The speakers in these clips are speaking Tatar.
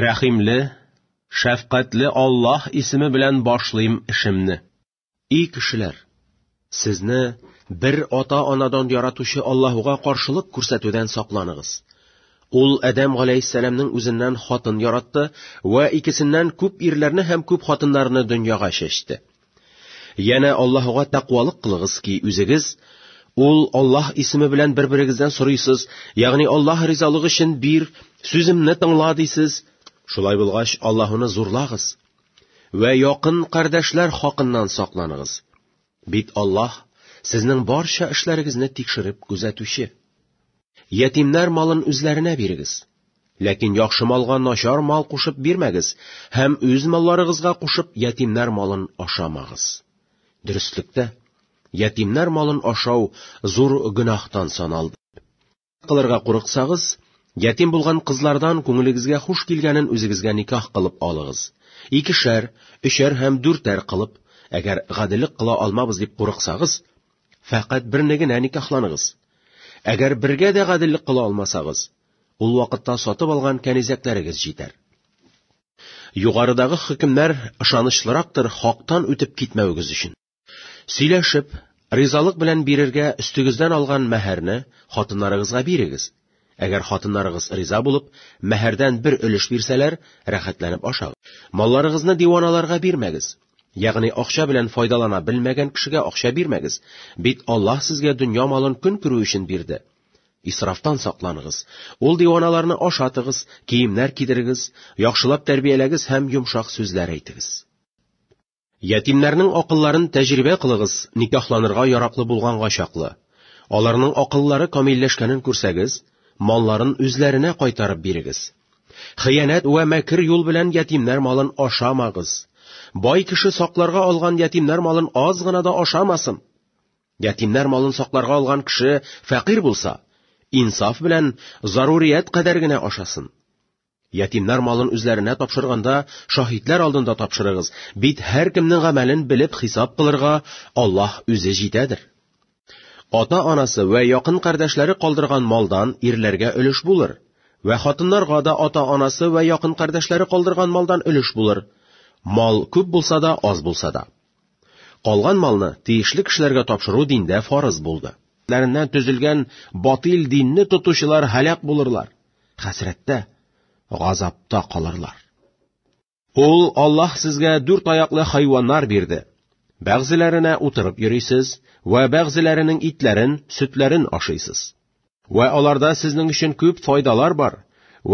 Рәхимле, шәфкатьле Аллаһ исеме белән башлыйм эшемне. И кешеләр! Сезне бер ата-анадан яратучы Аллаһуга каршылык күрсәтүдән сакланыгыз. Ул Адәм галәйһиссәламнең үзеннән хатын яратты вә икесеннән күп ирләрне һәм күп хатыннарны дөньяга чәчте. Янә Аллаһуга тәкъвалык кылыгыз ки, үзегез, ул Аллаһ исеме белән бер-берегездән сорыйсыз, ягъни Аллаһ ризалыгы өчен бир, сүземне тыңла дисез. Шулай булгач, Аллаһуны зурлагыз. Вә якын кардәшләр хакыннан сакланыгыз. Бит Аллаһ сезнең барча эшләрегезне тикшереп күзәтүче. Ятимнәр малын үзләренә бирегез. Ләкин яхшы малга начар мал кушып бирмәгез һәм үз малларыгызга кушып ятимнәр малын ашамагыз. Дөреслектә, ятимнәр малын ашау зур гөнаһтан саналды. Кылырга курыксагыз, ятим булган кызлардан күңелегезгә хуш килгәнен үзегезгә никах кылып алыгыз. Икешәр, өчәр һәм дүртәр кылып, әгәр гаделлек кыла алмабыз дип курыксагыз, Фәкать берне генә никахланыгыз. Әгәр бергә дә гаделлек кыла алмасагыз, ул вакытта сатып алган кәнизәкләрегез җитәр. Югарыдагы хөкемнәр ышанычлырактыр хактан үтеп китмәвегез өчен. Сөйләшеп, ризалык белән бирергә өстегездән алган мәһәрне хатыннарыгызга бирегез. Әгәр хатыннарыгыз риза булып, мәһәрдән бер өлеш бирсәләр, рәхәтләнеп ашагыз. Малларыгызны диваналарга бирмәгез. Ягъни акча белән файдалана белмәгән кешегә акча бирмәгез, бит Аллаһ сезгә дөнья малын көн күрү өчен бирде. Исрафтан сакланыгыз. Ул диваналарны ашатыгыз, киемнәр кидерегез, яхшылап тәрбияләгез һәм йомшак сүзләр әйтегез. Ятимнәрнең акылларын тәҗрибә кылыгыз, никахланырга яраклы булганга чаклы. Аларның акыллары камилләшкәнен күрсәгез, малларын үзләренә кайтарып бирегез. Хыянәт вә мәкер юл белән ятимнәр малын ашамагыз. Бай кеше сакларга алган ятимнәр малын аз гына да ашамасын. Ятимнәр малын сакларга алган кеше фәкыйрь булса, инсаф белән зарурият кадәр генә ашасын. Ятимнар малын үзләренә тапшырганда, шаһитләр алдында тапшырыгыз, бит һәркемнең гамәлен белеп хисап кылырга Аллаһ үзе җитәдер. Ата-анасы вә якын кардәшләре калдырган малдан ирләргә өлеш булыр, вә хатыннарга да ата-анасы вә якын кардәшләре калдырган малдан өлеш булыр, мал күп булса да, аз булса да. Калган малны тиешле кешеләргә тапшыру диндә фарыз булды. Ләреннән төзелгән батил динне тотучылар һәлак булырлар, хәсрәттә, газапта калырлар. Ул Аллаһ сезгә дүрт аяклы хайваннар бирде. Бәгъзеләренә утырып йөрисез вә бәгъзеләренең итләрен, сөтләрен ашыйсыз. Вә аларда сезнең өчен күп файдалар бар.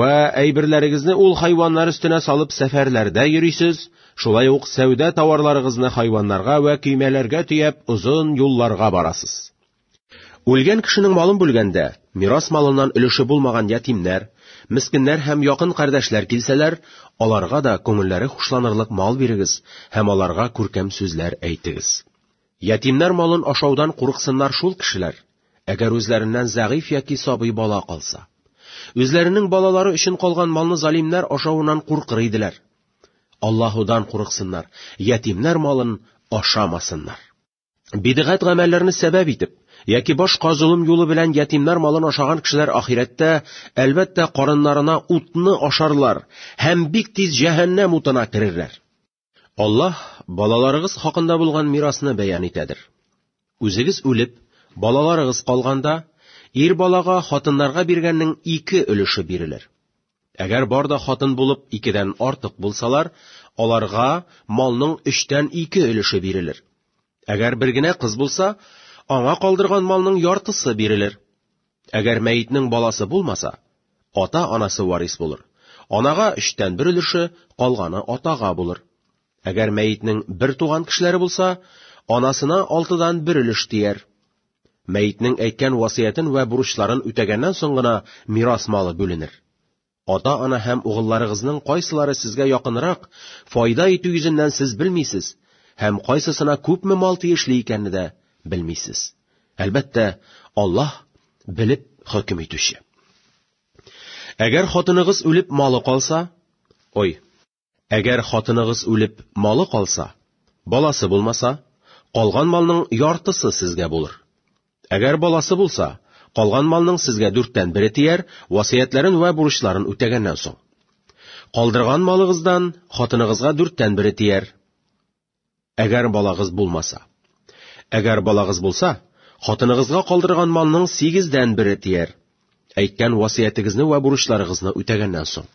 Вә әйберләрегезне ул хайваннар өстенә салып сәфәрләрдә йөрисез, шулай ук сәүдә тауарларыгызны хайваннарга вә көймәләргә төяп озын юлларга барасыз. Үлгән кешенең малын бүлгәндә, мирас малыннан өлеше булмаган ятимнәр, мескеннәр һәм якын кардәшләр килсәләр, аларга да күңелләре хушланырлык мал бирегез һәм аларга күркәм сүзләр әйтегез. Ятимнәр малын ашаудан курыксыннар шул кешеләр, әгәр үзләреннән зәгыйфь яки сабый бала калса. Үзләренең балалары өчен калган малны залимнәр ашавыннан куркыр иделәр. Аллаһудан курыксыннар, ятимнәр малын ашамасыннар. Бидгать гамәлләрне сәбәп итеп, яки башка золым юлы белән ятимнәр малын ашаган кешеләр ахирәттә, әлбәттә, карыннарына утны ашарлар һәм бик тиз җәһәннәм утына керерләр. Аллаһ балаларыгыз хакында булган мирасны бәян итәдер. Үзегез үлеп, балаларыгыз калганда, ир балага хатыннарга биргәннең ике өлеше бирелер. Әгәр бар да хатын булып икедән артык булсалар, аларга малның өчтән ике өлеше бирелер. Әгәр бер генә кыз булса, аңа калдырган малның яртысы бирелер. Әгәр мәетнең баласы булмаса, ата-анасы варис булыр. Анага өчтән бер өлеше, калганы атага булыр. Әгәр мәетнең бер туган кешеләре булса, анасына алтыдан бер өлеш тияр. Мәетнең әйткән васыятен вә бурычларын үтәгәннән соң гына мирас малы бүленер. Ата-ана һәм угылларыгызның кайсылары сезгә якынрак, файда итү йөзеннән сез белмисез, һәм кайсысына күпме мал тиешле икәнне дә белмисез. Әлбәттә, Аллаһ белеп хөкем итүче. Әгәр хатыныгыз үлеп малы калса, ой, Әгәр хатыныгыз үлеп, малы калса, баласы булмаса, калган малның яртысы сезгә булыр. Әгәр баласы булса, калган малның сезгә дүрттән бере тияр, васыятләрен вә бурычларын үтәгәннән соң. Калдырган малыгыздан хатыныгызга дүрттән бере тияр. Әгәр балагыз булмаса. Әгәр балагыз булса, хатыныгызга калдырган малның сигездән бере тияр. Әйткән васыятегезне вә бурычларыгызны үтәгәннән соң.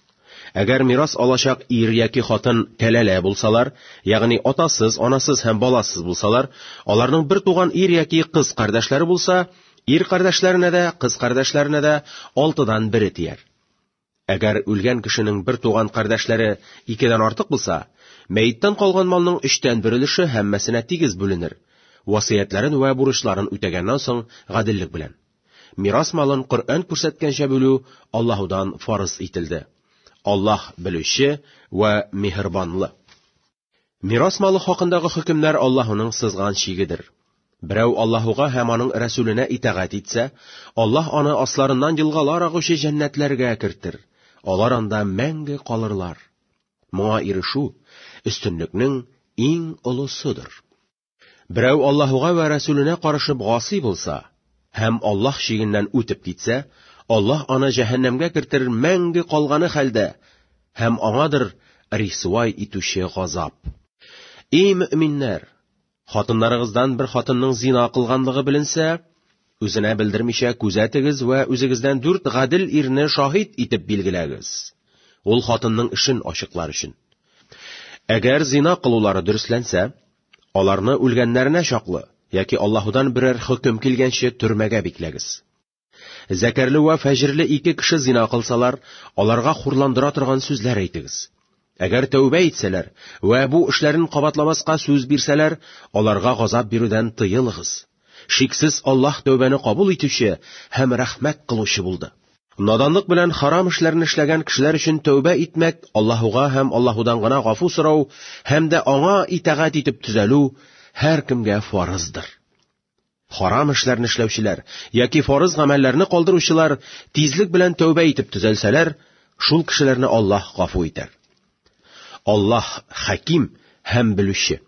Әгәр мирас алачак ир яки хатын кәләлә булсалар, ягъни атасыз, анасыз һәм баласыз булсалар, аларның бер туган ир яки кыз кардәшләре булса, ир кардәшләренә дә, кыз кардәшләренә дә алтыдан бере тияр. Әгәр үлгән кешенең бер туган кардәшләре икедән артык булса, мәеттән калган малның өчтән бер өлеше һәммәсенә тигез бүленер, васыятьләрен вә бурычларын үтәгәннән соң гаделлек белән. Мирас малын Коръән күрсәткәнчә бүлү Аллаһудан фарыз ителде. Аллаһ, Белүче вә Миһербанлы. Мирас малы хакындагы хөкемнәр Аллаһуның сызган чигедер. Берәү Аллаһуга һәм аның Рәсүленә итагать итсә, Аллаһ аны асларыннан елгалар агучы җәннәтләргә кертер. Алар анда мәңге калырлар. Моңа ирешү өстенлекнең иң олысыдыр. Берәү Аллаһуга вә Рәсүленә карышып гасый булса һәм Аллаһ шигеннән үтеп китсә, Аллаһ аны җәһәннәмгә кертер мәңге калганы хәлдә һәм аңадыр рисвай итүче газап. Эй мөэминнәр! Хатыннарыгыздан бер хатынның зина кылганлыгы беленсә, Үзенә белдермичә күзәтегез вә үзегездән дүрт гадел ирне шаһит итеп билгеләгез. Ул хатынның эшен ачыклар өчен. Әгәр зина кылулары дөресләнсә, аларны үлгәннәренә чаклы яки Аллаһудан берәр хөкем килгәнче төрмәгә бикләгез. Зәкәрле вә фәҗерле ике кеше зина кылсалар, аларга хурландыра торган сүзләр әйтегез. Әгәр тәүбә итсәләр вә бу эшләрен кабатламаска сүз бирсәләр, аларга газап бирүдән тыелыгыз. Шиксез Аллаһ тәүбәне кабул итүче һәм рәхмәт кылучы булды. Наданлык белән харам эшләрне эшләгән кешеләр өчен тәүбә итмәк, Аллаһуга һәм Аллаһудан гына гафу сорау һәм дә Аңа итагать итеп төзәлү һәркемгә фарыздыр. Харам эшләрне эшләүчеләр яки фарыз гамәлләрне калдыручылар тизлек белән тәүбә итеп төзәлсәләр, шул кешеләрне Аллаһ гафу итәр. Аллаһ Хәким һәм Белүче.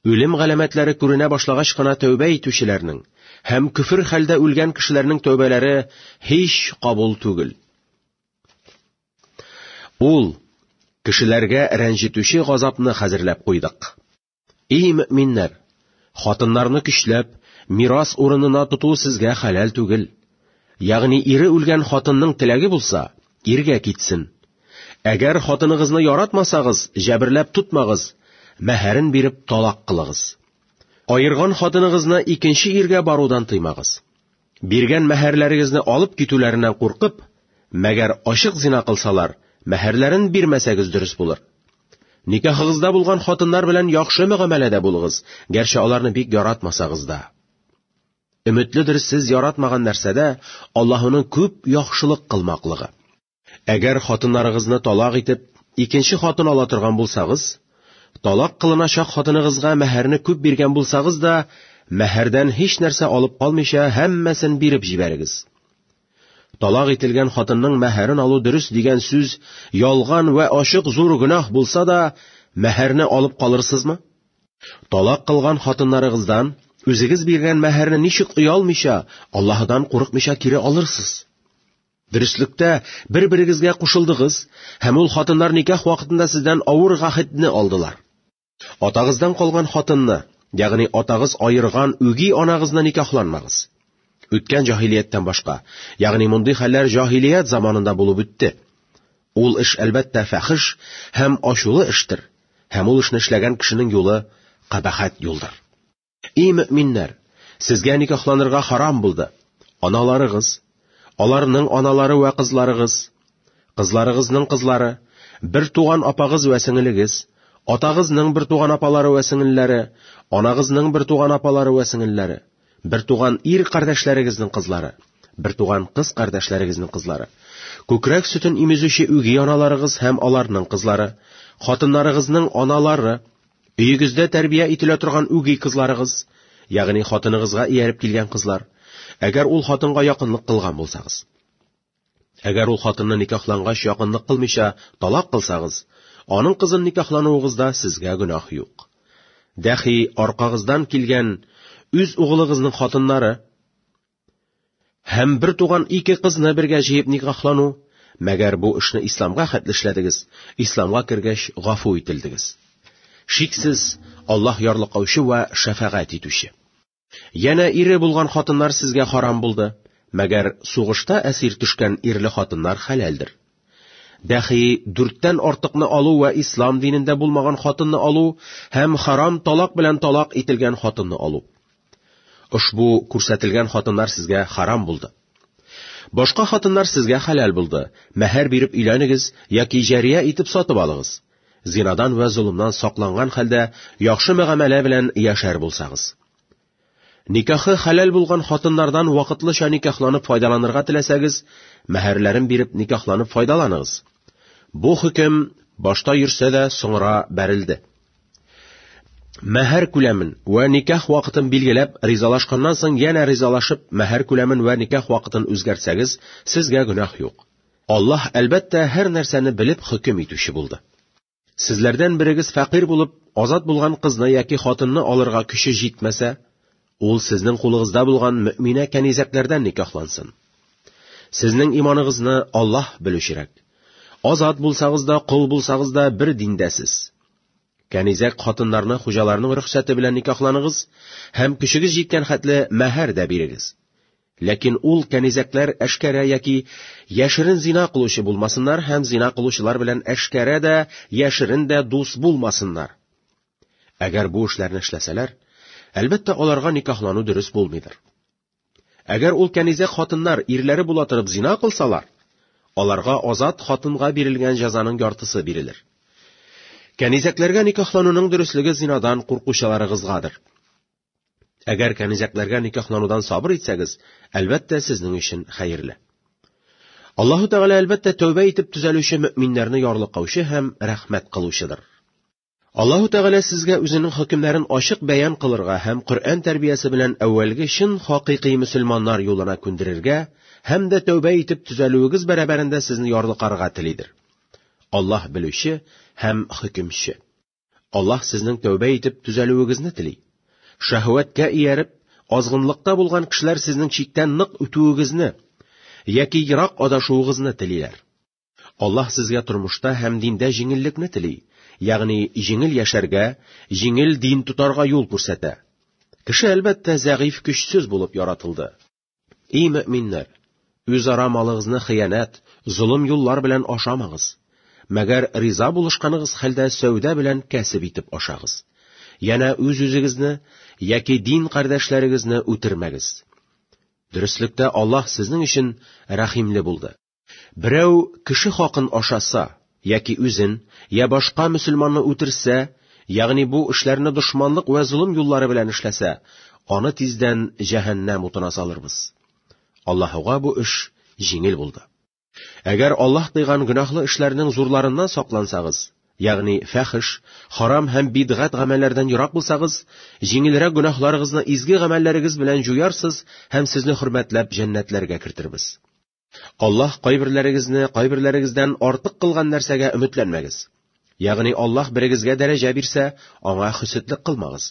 Үлем галәмәтләре күренә башлагач кына тәүбә итүчеләрнең һәм көфер хәлдә үлгән кешеләрнең тәүбәләре һич кабул түгел. Ул кешеләргә рәнҗетүче газапны хәзерләп куйдык. Ий мөминнәр, хатыннарны көчләп, мирас урынына тоту сезгә хәләл түгел. Ягъни ире үлгән хатынның теләге булса, иргә китсен. Әгәр хатыныгызны яратмасагыз, җәберләп тотмагыз, мәһәрен биреп талак кылыгыз. Аерган хатыныгызны икенче иргә барудан тыймагыз. Биргән мәһәрләрегезне алып китүләреннән куркып, мәгәр ачык зина кылсалар, мәһәрләрен бирмәсәгез дөрес булыр. Никахыгызда булган хатыннар белән яхшы мөгамәләдә булыгыз, гәрчә аларны бик яратмасагыз да. Өметледер сез яратмаган нәрсәдә Аллаһының күп яхшылык кылмаклыгы. Әгәр хатыннарыгызны талак итеп, икенче хатын ала торган булсагыз, талак кылыначак хатыныгызга мәһәрне күп биргән булсагыз да, мәһәрдән һич нәрсә алып калмыйча, һәммәсен биреп җибәрегез. Талак ителгән хатынның мәһәрен алу дөрес дигән сүз ялган вә ачык зур гөнаһ булса да, мәһәрне алып калырсызмы? Талак кылган хатыннарыгыздан үзегез биргән мәһәрне ничек оялмыйча, Аллаһыдан курыкмыйча кире алырсыз? Дөреслектә, бер-берегезгә кушылдыгыз, һәм ул хатыннар никах вакытында сездән авыр гахетне алдылар. Атагыздан калган хатынны, ягъни атагыз аерган үги анагызны никахланмагыз. Үткән җаһилияттән башка, ягъни мондый хәлләр җаһилият заманында булып үтте. Ул эш, әлбәттә, фәхеш һәм ачулы эштер, һәм ул эшне эшләгән кешенең юлы кабахәт юлдыр. Эй мөминнәр, сезгә никахланырга харам булды. Аналарыгыз, аларның аналары вә кызларыгыз, кызларыгызның кызлары, бер туган апагыз вә сеңелегез, атагызның бер туган апалары вә сеңелләре, анагызның бер туган апалары вә сеңелләре, бер туган ир кардәшләрегезнең кызлары, бер туган кыз кардәшләрегезнең кызлары, күкрәк сөтен имезүче үги аналарыгыз һәм аларның кызлары, хатыннарыгызның аналары, Өегездә тәрбия ителә торган үги кызларыгыз, ягъни хатыныгызга ияреп килгән кызлар, әгәр ул хатынга якынлык кылган булсагыз. Әгәр ул хатынны никахлангач якынлык кылмыйча талак кылсагыз, аның кызын никахлануыгызда сезгә гөнаһ юк. Дәхи аркагыздан килгән үз угылыгызның хатыннары, Һәм бер туган ике кызны бергә җыеп никахлану, мәгәр бу эшне исламга хәтле эшләдегез, исламга кергәч гафу ителдегез. Шиксез, Аллаһ ярлыкаучы вә шәфәгать итүче. Янә ире булган хатыннар сезгә харам булды, мәгәр сугышта әсир төшкән ирле хатыннар хәләлдер. Дәхи дүрттән артыкны алу вә ислам динендә булмаган хатынны алу һәм харам талак белән талак ителгән хатынны алу. Ошбу күрсәтелгән хатыннар сезгә харам булды. Башка хатыннар сезгә хәләл булды, мәһәр биреп өйләнегез яки җәрия итеп сатып алыгыз. Зинадан вә золымнан сакланган хәлдә яхшы мөгамәлә белән яшәр булсагыз. Никахы хәләл булган хатыннардан вакытлыча никахланып файдаланырга теләсәгез, мәһәрләрен биреп никахланып файдаланыгыз. Бу хөкем башта йөрсә дә, соңра бәрелде. Мәһәр күләмен вә никах вакытын билгеләп, ризалашканнан соң янә ризалашып, мәһәр күләмен вә никах вакытын үзгәртсәгез, сезгә гөнаһ юк. Аллаһ, әлбәттә, һәр нәрсәне белеп хөкем итүче булды. Сезләрдән берегез фәкыйрь булып, азат булган кызны яки хатынны алырга көче җитмәсә, Ул сезнең кулыгызда булган мөминә кәнизәкләрдән никахлансын. Сезнең иманыгызны Аллаһ белүчерәк. Азат булсагыз да, кол булсагыз да бер диндәсез. Кәнизәк хатыннарны хуҗаларның рөхсәте белән никахланыгыз һәм көчегез җиткән хәтле мәһәр дә бирегез. Ләкин ул кәнизәкләр әшкәрә яки яшерен зина кылучы булмасыннар һәм зина кылучылар белән әшкәрә дә, яшерен дә дус булмасыннар. Әгәр бу эшләрне эшләсәләр, әлбәттә, аларга никахлану дөрес булмыйдыр. Әгәр ул кәнизәк хатыннар ирләре була торып зина кылсалар, аларга азат хатынга бирелгән җәзаның яртысы бирелер. Кәнизәкләргә никахлануның дөреслеге зинадан куркучыларыгызгадыр. Әгәр кәнизәкләргә никахланудан сабыр итсәгез, әлбәттә, сезнең өчен хәерле. Аллаһу Тәгалә әлбәттә тәүбә итеп төзәлүче мөэминнәрне ярлыкаучы һәм рәхмәт кылучыдыр. Аллаһу Тәгалә сезгә үзенең хөкемнәрен ачык бәян кылырга һәм Коръән тәрбиясе белән әүвәлге чын хакыйкый мөселманнар юлына күндерергә һәм дә тәүбә итеп төзәлүегез бәрабәрендә сезне ярлыкарга телидер. Аллаһ белүче һәм хөкемче. Аллаһ сезнең тәүбә итеп төзәлүегезне тели. Шәһвәткә ияреп, азгынлыкта булган кешеләр сезнең чиктән нык үтүегезне яки ерак адашуыгызны телиләр. Аллаһ сезгә тормышта һәм диндә җиңеллекне тели, ягъни җиңел яшәргә, җиңел дин тотарга юл күрсәтә. Кеше, әлбәттә, зәгыйфь көчсез булып яратылды. И мөминнәр, үзара малыгызны хыянәт, золым юллар белән ашамагыз. Мәгәр риза булышканыгыз хәлдә сәүдә белән кәсеп итеп ашагыз. Янә үз-үзегезне яки дин кардәшләрегезне үтермәгез. Дөреслектә Аллаһ сезнең өчен рәхимле булды. Берәү кеше хакын ашаса, яки үзен, я башка мөселманны үтерсә, ягъни бу эшләрне дошманлык вә золым юллары белән эшләсә, аны тиздән җәһәннәм утына салырбыз. Аллаһуга бу эш җиңел булды. Әгәр Аллаһ тыйган гөнаһлы эшләрнең зурларыннан саклансагыз, ягъни фәхеш, харам һәм бидгать гамәлләрдән ерак булсагыз, җиңелрәк гөнаһларыгызны изге гамәлләрегез белән җуярсыз һәм сезне хөрмәтләп җәннәтләргә кертербез. Аллаһ кайберләрегезне кайберләрегездән артык кылган нәрсәгә өметләнмәгез. Ягъни Аллаһ берегезгә дәрәҗә бирсә, аңа хөсетлек кылмагыз.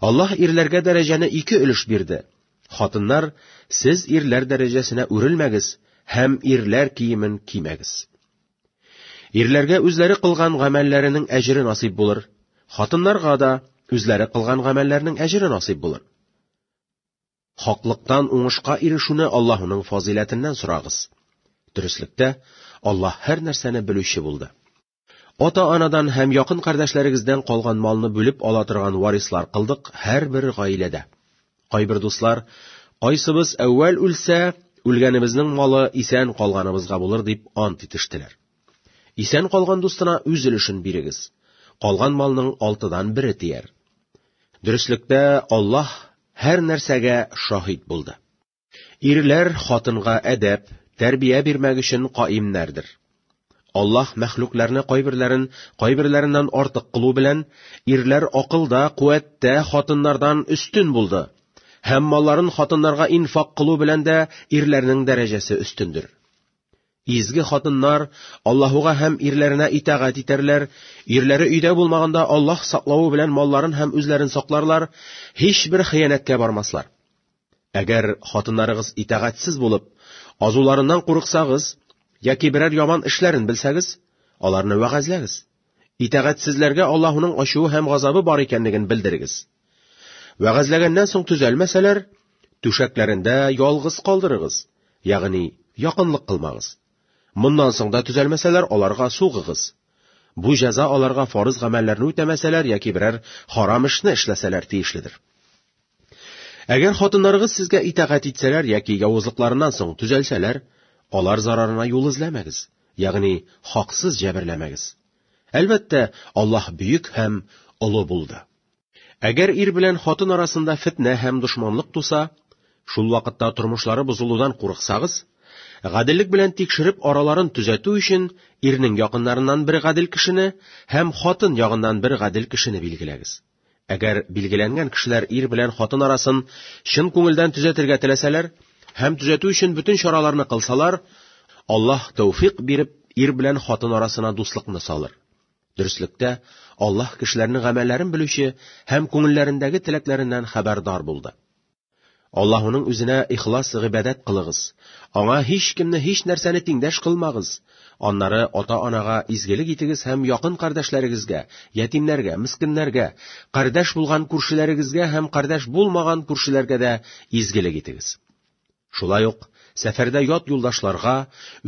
Аллаһ ирләргә дәрәҗәне ике өлеш бирде. Хатыннар, сез ирләр дәрәҗәсенә үрелмәгез һәм ирләр киемен кимәгез. Ирләргә үзләре кылган гамәлләренең әҗере насыйп булыр. Хатыннарга да үзләре кылган гамәлләрнең әҗере насыйп булыр. Хаклыктан уңышка ирешүне Аллаһының фазыйләтеннән сорагыз. Дөреслектә, Аллаһ һәр нәрсәне белүче булды. Ата-анадан һәм якын кардәшләрегездән калган малны бүлеп ала торган варислар кылдык һәрбер гаиләдә. Кайбер дуслар, кайсыбыз әүвәл үлсә, үлгәнебезнең малы исән калганыбызга булыр дип ант итештеләр. Исән калган дустына үз өлешен бирегез. Калган малның алтыдан бере тияр. Дөреслектә Аллаһ һәр нәрсәгә шаһит булды. Ирләр хатынга әдәп, тәрбия бирмәк өчен каимнәрдер. Аллаһ мәхлукларны кайберләрен кайберләреннән артык кылу белән, ирләр акылда, куәттә хатыннардан өстен булды. Һәм малларын хатыннарга инфак кылу белән дә ирләрнең дәрәҗәсе өстендер. Изге хатыннар Аллаһуга һәм ирләренә итагать итәрләр, ирләре өйдә булмаганда Аллаһ саклавы белән малларын һәм үзләрен сакларлар, һичбер хыянәткә бармаслар. Әгәр хатыннарыгыз итагатьсез булып, азуларыннан курыксагыз яки берәр яман эшләрен белсәгез, аларны вәгазьләгез. Итагатьсезләргә Аллаһуның ачуы һәм газабы бар икәнлеген белдерегез. Вәгазьләгәннән соң төзәлмәсәләр, түшәкләрендә ялгыз калдырыгыз, ягъни якынлык кылмагыз. Моннан соң да төзәлмәсәләр, аларга сугыгыз. Бу җәза аларга фарыз гамәлләрне үтәмәсәләр яки берәр харам эшне эшләсәләр тиешледер. Әгәр хатыннарыгыз сезгә итагать итсәләр яки явызлыкларыннан соң төзәлсәләр, алар зарарына юл эзләмәгез, ягъни хаксыз җәберләмәгез. Әлбәттә, Аллаһ бөек һәм олы булды. Әгәр ир белән хатын арасында фетнә һәм дошманлык туса, шул вакытта тормышлары бозылудан курыксагыз, гаделлек белән тикшереп араларын төзәтү өчен ирнең якыннарыннан бер гадел кешене һәм хатын ягыннан бер гадел кешене билгеләгез. Әгәр билгеләнгән кешеләр ир белән хатын арасын чын күңелдән төзәтергә теләсәләр һәм төзәтү өчен бөтен чараларны кылсалар, Аллаһ тәүфик биреп, ир белән хатын арасына дуслыкны салыр. Дөреслектә, Аллаһ кешеләрнең гамәлләрен белүче һәм күңелләрендәге теләкләреннән хәбәрдар булды. Аллаһуның үзенә ихлас гыйбадәт кылыгыз, Аңа һичкемне, һичнәрсәне тиңдәш кылмагыз, аннары ата-анага изгелек итегез һәм якын кардәшләрегезгә, ятимнәргә, мескеннәргә, кардәш булган күршеләрегезгә һәм кардәш булмаган күршеләргә дә изгелек итегез. Шулай ук, сәфәрдә ят юлдашларга,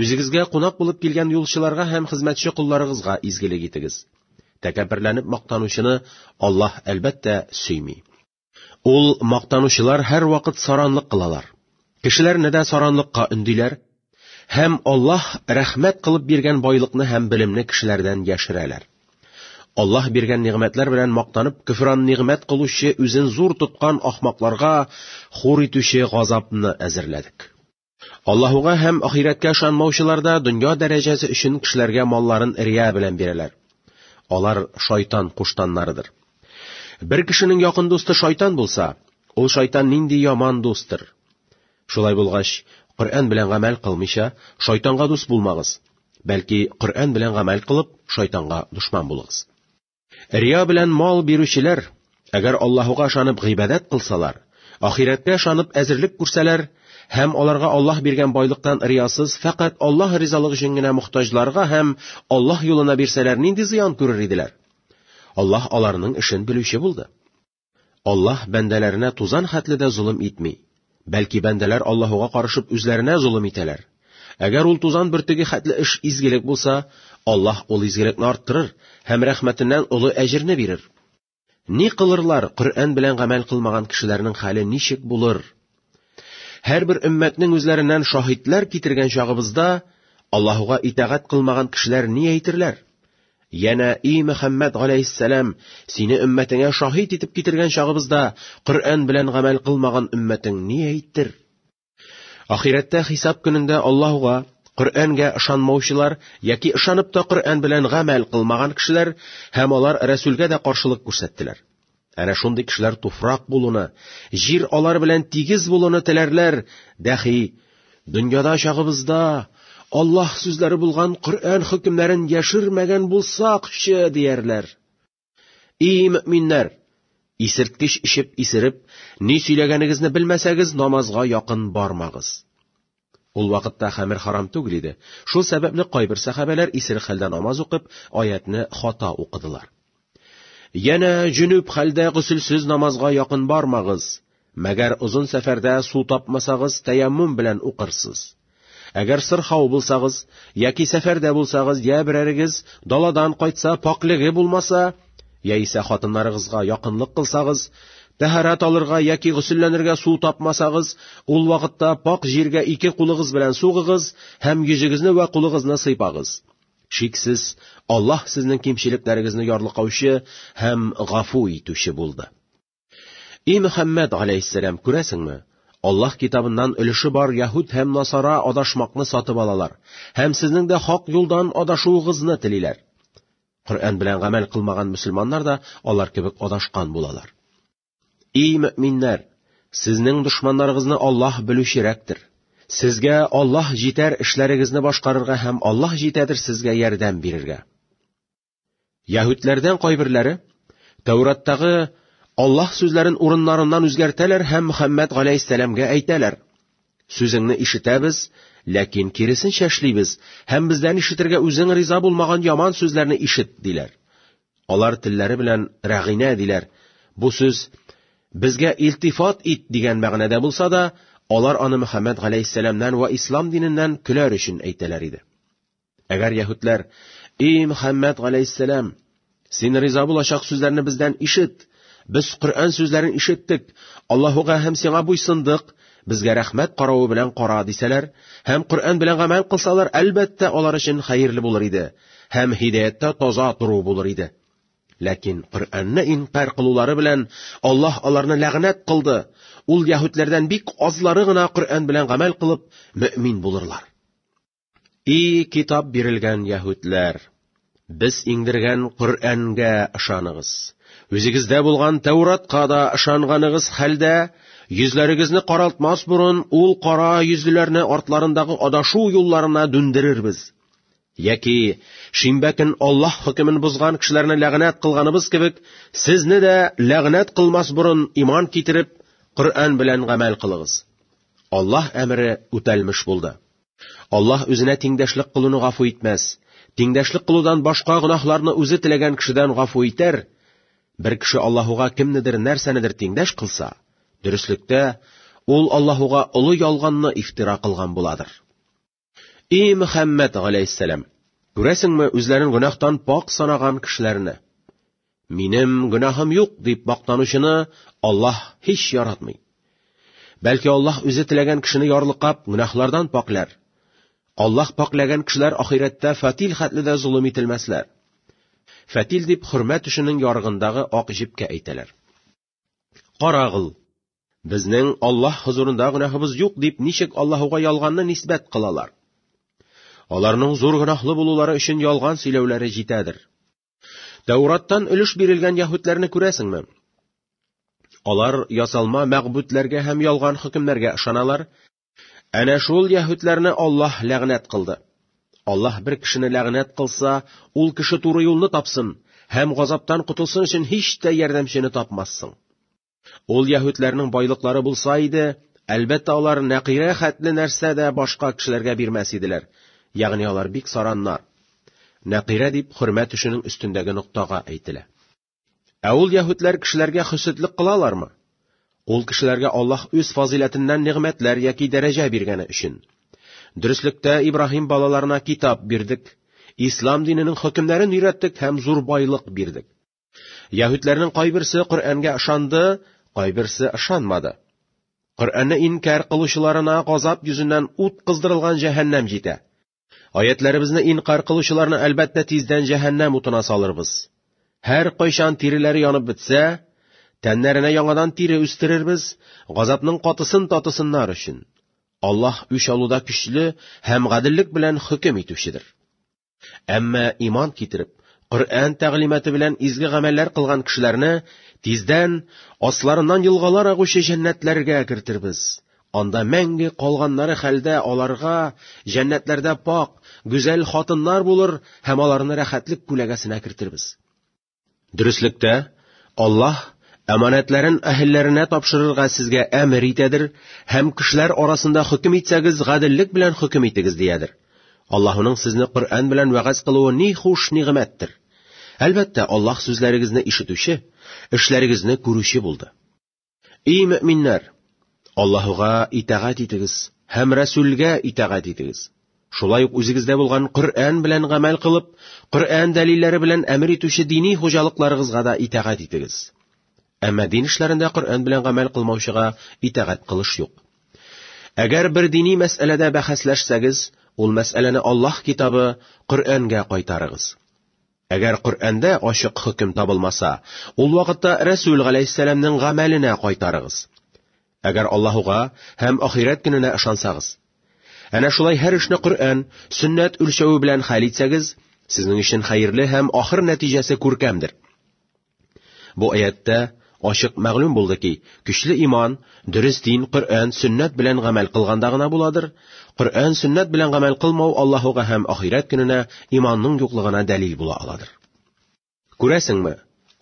үзегезгә кунак булып килгән юлчыларга һәм хезмәтче колларыгызга изгелек итегез. Тәкәбберләнеп мактанучыны Аллаһ, әлбәттә, сөйми. Ул, Мактанучылар һәрвакыт саранлык кылалар. Кешеләрне дә саранлыкка өндиләр. Һәм Аллаһ рәхмәт кылып биргән байлыкны һәм белемне кешеләрдән яшерәләр. Аллаһ биргән нигъмәтләр белән мактанып, көфран нигъмәт кылучы, үзен зур тоткан ахмакларга хур итүче газапны әзерләдек. Аллаһуга һәм ахирәткә ышанмаучылар да дөнья дәрәҗәсе өчен кешеләргә малларын рия белән бирәләр. Алар шайтан куштаннарыдыр. Бер кешенең якын дусты шайтан булса, ул шайтан нинди яман дустыр! Шулай булгач, Коръән белән гамәл кылмыйча, шайтанга дус булмагыз. Бәлки, Коръән белән гамәл кылып, шайтанга дошман булыгыз. Рия белән мал бирүчеләр, әгәр Аллаһуга ышанып гыйбадәт кылсалар, ахирәткә ышанып әзерлек күрсәләр һәм аларга Аллаһ биргән байлыктан риясыз, фәкать Аллаһ ризалыгы өчен генә мохтаҗларга һәм Аллаһ юлына бирсәләр, нинди зыян күрер иделәр? Аллаһ аларның эшен белүче булды. Аллаһ бәндәләренә тузан хәтле дә золым итми. Бәлки бәндәләр Аллаһуга карышып үзләренә золым итәләр. Әгәр ул тузан бөртеге хәтле эш изгелек булса, Аллаһ ул изгелекне арттырыр һәм рәхмәтеннән олы әҗерне бирер. Ни кылырлар, Коръән белән гамәл кылмаган кешеләрнең хәле ничек булыр? Һәрбер өммәтнең үзләреннән шаһитләр китергән чагыбызда Аллаһуга итагать кылмаган кешеләр ни әйтерләр? Янә и Мөхәммәд галәйһиссәлам, сине өммәтеңә шаһит итеп китергән чагыбызда Коръән белән гамәл кылмаган өммәтең ни әйтер? Ахирәттә хисап көнендә Аллаһуга Коръәнгә ышанмаучылар яки ышанып та Коръән белән гамәл кылмаган кешеләр һәм алар Рәсүлгә дә каршылык күрсәттеләр. Әнә шундый кешеләр туфрак булуны, җир алар белән тигез булуны теләрләр, дәхи, дөньяда чагыбызда Аллаһ сүзләре булган Коръән хөкемнәрен яшермәгән булсакчы, диярләр. И мөминнәр, исерткеч эчеп исереп, ни сөйләгәнегезне белмәсәгез, намазга якын бармагыз. Ул вакытта хәмер харам түгел иде. Шул сәбәпле кайбер сәхабәләр исерек хәлдә намаз укып, аятьне хата укыдылар. Янә җөнүп хәлдә гөселсез намазга якын бармагыз. Мәгәр озын сәфәрдә су тапмасагыз, тәяммум белән укырсыз. Әгәр сырхау булсагыз, яки сәфәрдә булсагыз, я берәрегез даладан кайтса, пакьлеге булмаса, Яисә хатыннарыгызга якынлык кылсагыз, тәһарәт алырга яки гөселләнергә су тапмасагыз, ул вакытта пакь җиргә ике кулыгыз белән сугыгыз һәм йөзегезне вә кулыгызны сыйпагыз. Шиксез, Аллаһ сезнең кимчелекләрегезне ярлыкаучы һәм гафу итүче булды. И Мөхәммәд алейһиссәлам, күрәсеңме? Аллаһ китабыннан өлеше бар яһүд һәм насара адашмакны сатып алалар һәм сезнең дә хак юлдан адашуыгызны телиләр. Коръән белән гамәл кылмаган мөселманнар да алар кебек адашкан булалар. И мөминнәр, сезнең дошманнарыгызны Аллаһ белүчерәктер. Сезгә Аллаһ җитәр эшләрегезне башкарырга һәм Аллаһ җитәдер сезгә ярдәм бирергә. Яһүдләрдән кайберләре Тәүраттагы Аллаһ сүзләрен урыннарыннан үзгәртәләр һәм Мөхәммәд галәйһиссәламгә әйтәләр: Сүзеңне ишетәбез, ләкин киресенчә эшлибез, һәм бездән ишетергә үзең риза булмаган яман сүзләрне ишет, диләр. Алар телләре белән рәгыйнә диләр. Бу сүз безгә илтифат ит дигән мәгънәдә булса да, алар аны Мөхәммәд галәйһиссәламнән вә ислам диненнән көләр өчен әйтәләр иде. Әгәр яһүдләр, «И Мөхәммәд галәйһиссәлам, син риза булачак сүзләрне бездән ишет. Без Коръән сүзләрен ишеттек, Аллаһуга һәм сиңа буйсындык, безгә рәхмәт каравы белән кара» дисәләр һәм Коръән белән гамәл кылсалар, әлбәттә, алар өчен хәерле булыр иде һәм һидаяттә таза тору булыр иде. Ләкин Коръәнне инкар кылулары белән Аллаһ аларны ләгънәт кылды. Ул яһүдләрдән бик азлары гына Коръән белән гамәл кылып, мөэмин булырлар. И китап бирелгән яһүдләр! Без иңдергән Коръәнгә ышаныгыз. Үзегездә булган Тәуратка да ышанганыгыз хәлдә, йөзләрегезне каралтмас борын ул кара йөзлеләрне артларындагы адашу юлларына дүндерербез. Яки шимбә көн Аллаһ хөкемен бозган кешеләрне ләгънәт кылганыбыз кебек, сезне дә ләгънәт кылмас борын иман китереп, Коръән белән гамәл кылыгыз. Аллаһ әмере үтәлмеш булды. Аллаһ үзенә тиңдәшлек кылуны гафу итмәс. Тиңдәшлек кылудан башка гөнаһларны үзе теләгән кешедән гафу итәр. Бер кеше Аллаһуга кемнедер нәрсәнедер тиңдәш кылса, дөреслектә, ул Аллаһуга олы ялганны ифтира кылган буладыр. И Мөхәммәд галәйһиссәлам, күрәсеңме үзләрен гөнаһтан пак санаган кешеләрне? Минем гөнаһым юк дип мактанучыны Аллаһ һич яратмый. Бәлки Аллаһ үзе теләгән кешене ярлыкап гөнаһлардан пакьләр. Аллаһ пакьләгән кешеләр ахирәттә фатил хәтле дә зулым ителмәсләр. Фатил дип хөрмә төшенең ярыгындагы ак җипкә әйтәләр. Карагыл. Безнең Аллаһ хозурында гөнаһыбыз юк дип ничек Аллаһуга ялганны нисбәт кылалар? Аларның зур гөнаһлы булулары өчен ялган сөйләүләре җитәдер. Тәураттан өлеш бирелгән яһүдләрне күрәсеңме? Алар ясалма мәгъбүдләргә һәм ялган хөкемнәргә ышаналар. Әнә шул яһүдләрне Аллаһ ләгънәт кылды. Аллаһ бер кешене ләгънәт кылса, ул кеше туры юлны тапсын һәм газаптан котылсын өчен һич тә ярдәмчене тапмассың. Ул яһүдләрнең байлыклары булса иде, әлбәттә, алар нәкыйрә хәтле нәрсә дә башка кешеләргә бирмәс иделәр. Ягъни алар бик сараннар. Нәкыйрә дип хөрмәт эшенең өстендәге ноктага әйтелә. Ә ул яһүдләр кешеләргә хөсетлек кылалармы? Ул кешеләргә Аллаһ үз фазыйләтеннән нигъмәтләр яки дәрәҗә биргәне өчен. Дөреслектә Ибраһим балаларына китап бирдек, ислам диненең хөкемнәрен өйрәттек һәм зур байлык бирдек. Яһүдләрнең кайберсе Коръәнгә ышанды, кайберсе ышанмады. Коръәнне инкар кылучыларына газап йөзеннән ут кыздырылган җәһәннәм җитә. Аятларыбызны инкар кылучыларны әлбәттә тиздән җәһәннәм утына салырбыз. Һәр кайчан тиреләре янып бетсә, тәннәренә яңадан тире үстерербез, газапның катысын татысыннар өчен. Аллаһ үч алуда көчле һәм гаделлек белән хөкем итүчедер. Әмма иман китереп, Коръән тәгълиматы белән изге гамәлләр кылган кешеләрне тиздән асларыннан елгалар агучы җәннәтләргә кертирбез. Анда мәңге калганнары хәлдә аларга җәннәтләрдә пак, гүзәл хатыннар булыр һәм аларны рәхәтлек күләгәсенә кертирбез. Дөреслектә, Аллаһ әманәтләрен әһелләренә тапшырырга сезгә әмер итәдер һәм кешеләр арасында хөкем итсәгез, гаделлек белән хөкем итегез диядер. Аллаһының сезне Коръән белән вәгазь кылуы ни хуш нигъмәттер. Әлбәттә, Аллаһ сүзләрегезне ишетүче, эшләрегезне күрүче булды. Эй мөминнәр, Аллаһуга итагать итегез һәм Расүлгә итагать итегез. Шулай ук үзегездә булган Коръән белән гамәл кылып, Коръән дәлилләре белән әмер итүче дини хуҗалыкларыгызга да итагать итегез. Әмма дин эшләрендә Коръән белән гамәл кылмаучыга итагать кылыш юк. Әгәр бер дини мәсьәләдә бәхәсләшсәгез, ул мәсьәләне Аллаһ китабы Коръәнгә кайтарыгыз. Әгәр Коръәндә ачык хөкем табылмаса, ул вакытта Рәсүл галәйһиссәламнең гамәленә кайтарыгыз. Әгәр Аллаһуга һәм ахирәт көненә ышансагыз. Әнә шулай һәр эшне Коръән, сөннәт үлчәве белән хәл итсәгез, сезнең өчен хәерле һәм ахыр нәтиҗәсе күркәмдер. Бу аятьтә ачык мәгълүм булды ки, көчле иман, дөрес дин Коръән, сөннәт белән гамәл кылганда гына буладыр. Коръән, сөннәт белән гамәл кылмау Аллаһуга һәм ахирәт көненә иманның юклыгына дәлил була аладыр. Күрәсеңме,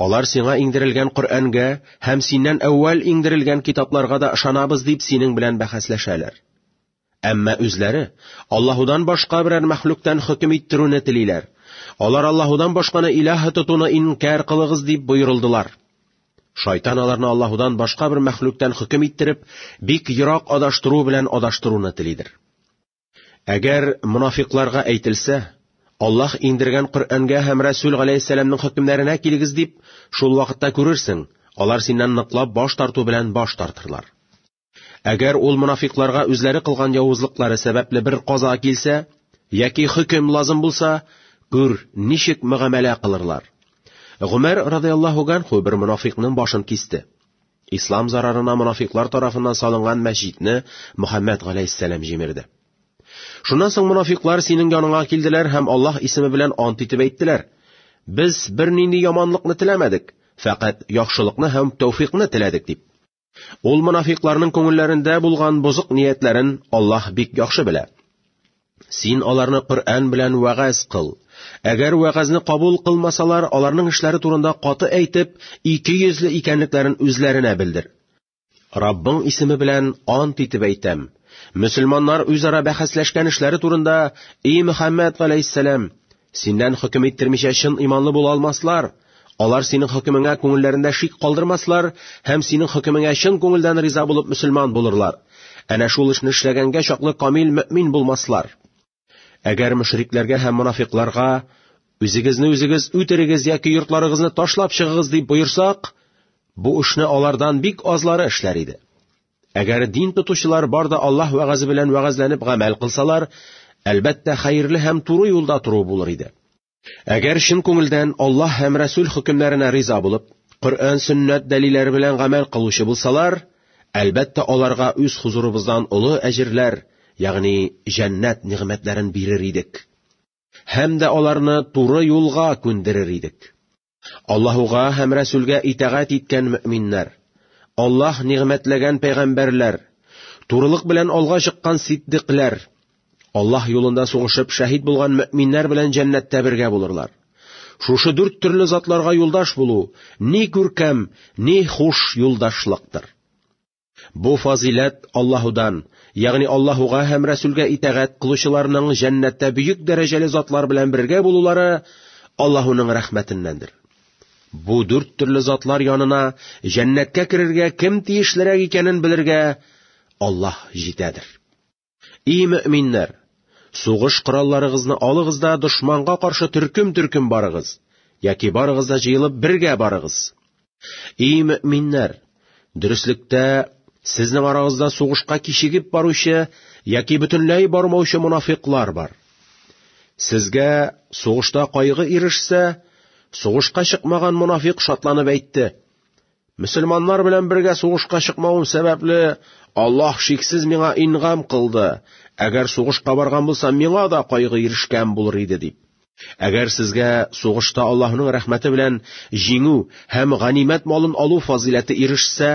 алар сиңа иңдерелгән Коръәнгә һәм синнән әүвәл иңдерелгән китапларга да ышанабыз дип синең белән бәхәсләшәләр. Әмма үзләре Аллаһудан башка берәр мәхлуктан хөкем иттерүне телиләр. Алар Аллаһудан башканы илаһ тотуны инкар кылыгыз дип боерылдылар. Шайтан аларны Аллаһудан башка бер мәхлуктан хөкем иттереп, бик ерак адаштыру белән адаштыруны телидер. Әгәр мунафикларга әйтелсә, Аллаһ иңдергән Коръәнгә һәм Расул галәйһиссәламның хөкемнәренә килегез дип, шул вакытта күрерсең, алар синнән ныклап баш тарту белән баш тартырлар. Әгәр ул монафикларга үзләре кылган явызлыклары сәбәпле бер каза килсә, яки хөкем лазым булса, күр, ничек мөгамәлә кылырлар. Гомәр радиаллаһу ганху бер монафикның башын кисте. Ислам зарарына монафиклар тарафыннан салынган мәсҗидне Мөхәммәд галәйһиссәлам җимерде. Шуннан соң монафиклар синең яныңа килделәр һәм Аллаһ исеме белән ант итеп әйттеләр: Без бернинди яманлыкны теләмәдек, фәкать яхшылыкны һәм тәүфикны теләдек дип. Ул монафикларның күңелләрендә булган бозык ниятләрен Аллаһ бик яхшы белә. Син аларны Коръән белән вәгазь кыл. Әгәр вәгазьне кабул кылмасалар, аларның эшләре турында каты әйтеп, ике йөзле икәнлекләрен үзләренә белдер. Раббың исеме белән ант итеп әйтәм. Мөселманнар үзара бәхәсләшкән эшләре турында, и Мөхәммәд галәйһиссәлам, Синнән хөкем иттермичә чын иманлы була алмаслар. Алар синең хөкемеңә күңелләрендә шик калдырмаслар һәм синең хөкемеңә чын күңелдән риза булып мөселман булырлар. Әнә шул эшне эшләгәнгә чаклы камил мөэмин булмаслар. Әгәр мөшрикләргә һәм монафикларга үзегезне үзегез үтерегез яки йортларыгызны ташлап чыгыгыз дип боерсак, бу эшне алардан бик азлары эшләр иде. Әгәр дин тотучылар бар да Аллаһ вәгазе белән вәгазьләнеп гамәл кылсалар, әлбәттә хәерле һәм туры юлда тору булыр иде. Әгәр чын күңелдән Аллаһ һәм Рәсүл хөкемнәренә риза булып, Коръән сөннәт дәлилләре белән гамәл кылучы булсалар, әлбәттә аларга үз хузурыбыздан олы әҗерләр, ягъни җәннәт нигъмәтләрен бирер идек. Һәм дә аларны туры юлга күндерер идек. Аллаһуга һәм Рәсүлгә итәгать иткән мөминнәр, Аллаһ нигъмәтләгән пәйгамбәрләр, турылык белән алга чыккан сиддикләр, Аллаһ юлында сугышып шәһид булган мөминнәр белән җәннәттә бергә булырлар. Шушы дүрт төрле затларга юлдаш булу ни күркәм, ни хуш юлдашлыктыр. Бу фазиләт Аллаһудан, ягъни Аллаһуга һәм Рәсүлгә итәгать кылучыларның җәннәттә бөек дәрәҗәле затлар белән бергә булулары Аллаһуның рәхмәтеннәндер. Бу дүрт төрле затлар янына җәннәткә керергә кем тиешлерәк икәнен белергә Аллаһ җитәдер. И мөэминнәр! Сугыш коралларыгызны алыгыз да дошманга каршы төркем-төркем барыгыз, яки барыгыз да җыелып бергә барыгыз. И мөэминнәр! Дөреслектә сезнең арагызда сугышка кичегеп баручы яки бөтенләй бармаучы мунафиклар бар. Сезгә сугышта кайгы ирешсә, сугышка чыкмаган мунафик шатланып әйтте: Мөселманнар белән бергә сугышка чыкмавым сәбәпле, Аллаһ шиксез миңа ингам кылды. Әгәр сугышка барган булсам, миңа да кайгы ирешкән булыр иде дип. Әгәр сезгә сугышта Аллаһның рәхмәте белән җиңү һәм ганимәт малын алу фазыйләте ирешсә,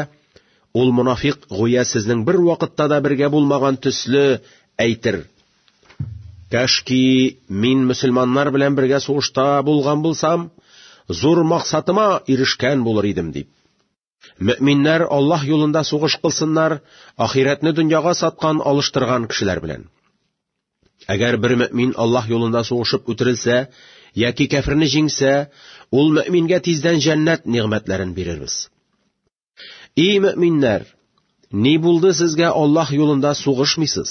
ул монафикъ гүя сезнең бер вакытта да бергә булмаган төсле әйтер, Кәшки мин мөселманнар белән бергә сугышта булган булсам, зур максатыма ирешкән булыр идем дип. Мөминнәр Аллаһ юлында сугыш кылсыннар, ахирәтне дөньяга саткан, алыштырган кешеләр белән. Әгәр бер мөмин Аллаһ юлында сугышып үтерелсә яки кәферне җиңсә, ул мөмингә тиздән җәннәт нигъмәтләрен бирербез. Эй, мөминнәр! Ни булды сезгә Аллаһ юлында сугышмыйсыз?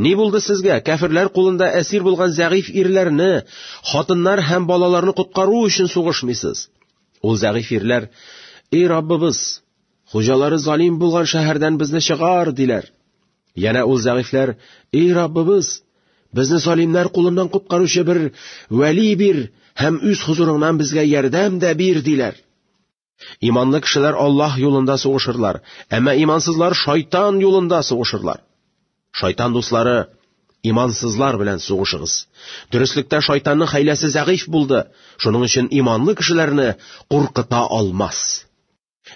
Ни булды сезгә кәферләр кулында әсир булган зәгыйф ирләрне, хатыннар һәм балаларны коткару өчен сугышмыйсыз? Ул зәгыйф ирләр, «Эй Раббыбыз, хуҗалары залим булган шәһәрдән безне чыгар!» диләр. Янә ул зәгыйфләр, «Эй Раббыбыз, безне залимнәр кулыннан коткаручы бер вәли бир һәм үз хузурыңнан безгә ярдәм дә бир!» диләр. Иманлы кешеләр Аллаһ юлында сугышырлар, әмма имансызлар шайтан юлында сугышырлар. Шайтан дуслары, имансызлар белән сугышыгыз. Дөреслектә шайтанның хәйләсе зәгыйф булды, шуның өчен иманлы кешеләрне куркыта алмас.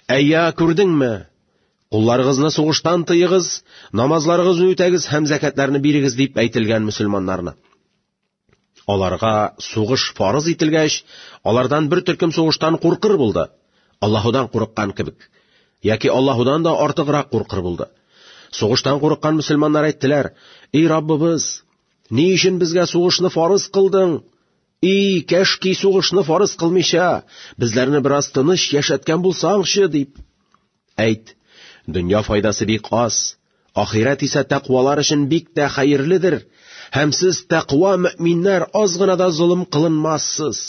Әйя, күрдеңме? Кулларыгызны сугыштан тыегыз, намазларыгызны үтәгез һәм зәкәтләрне бирегез дип әйтелгән мөселманнарны. Аларга сугыш фарыз ителгәч, алардан бер төркем сугыштан куркыр булды. Аллаһудан курыккан кебек. Яки Аллаһудан да артыграк куркыр булды. Сугыштан курыккан мөселманнар әйттеләр, «Эй Раббыбыз, ни өчен безгә сугышны фарыз кылдың? И, кәшки сугышны фарыз кылмыйча, безләрне бераз тыныч яшәткән булсаңчы!» дип. Әйт, дөнья файдасы бик аз, ахирәт исә тәкъвалар өчен бик тә хәерледер, һәм сез тәкъва мөэминнәр аз гына да золым кылынмассыз.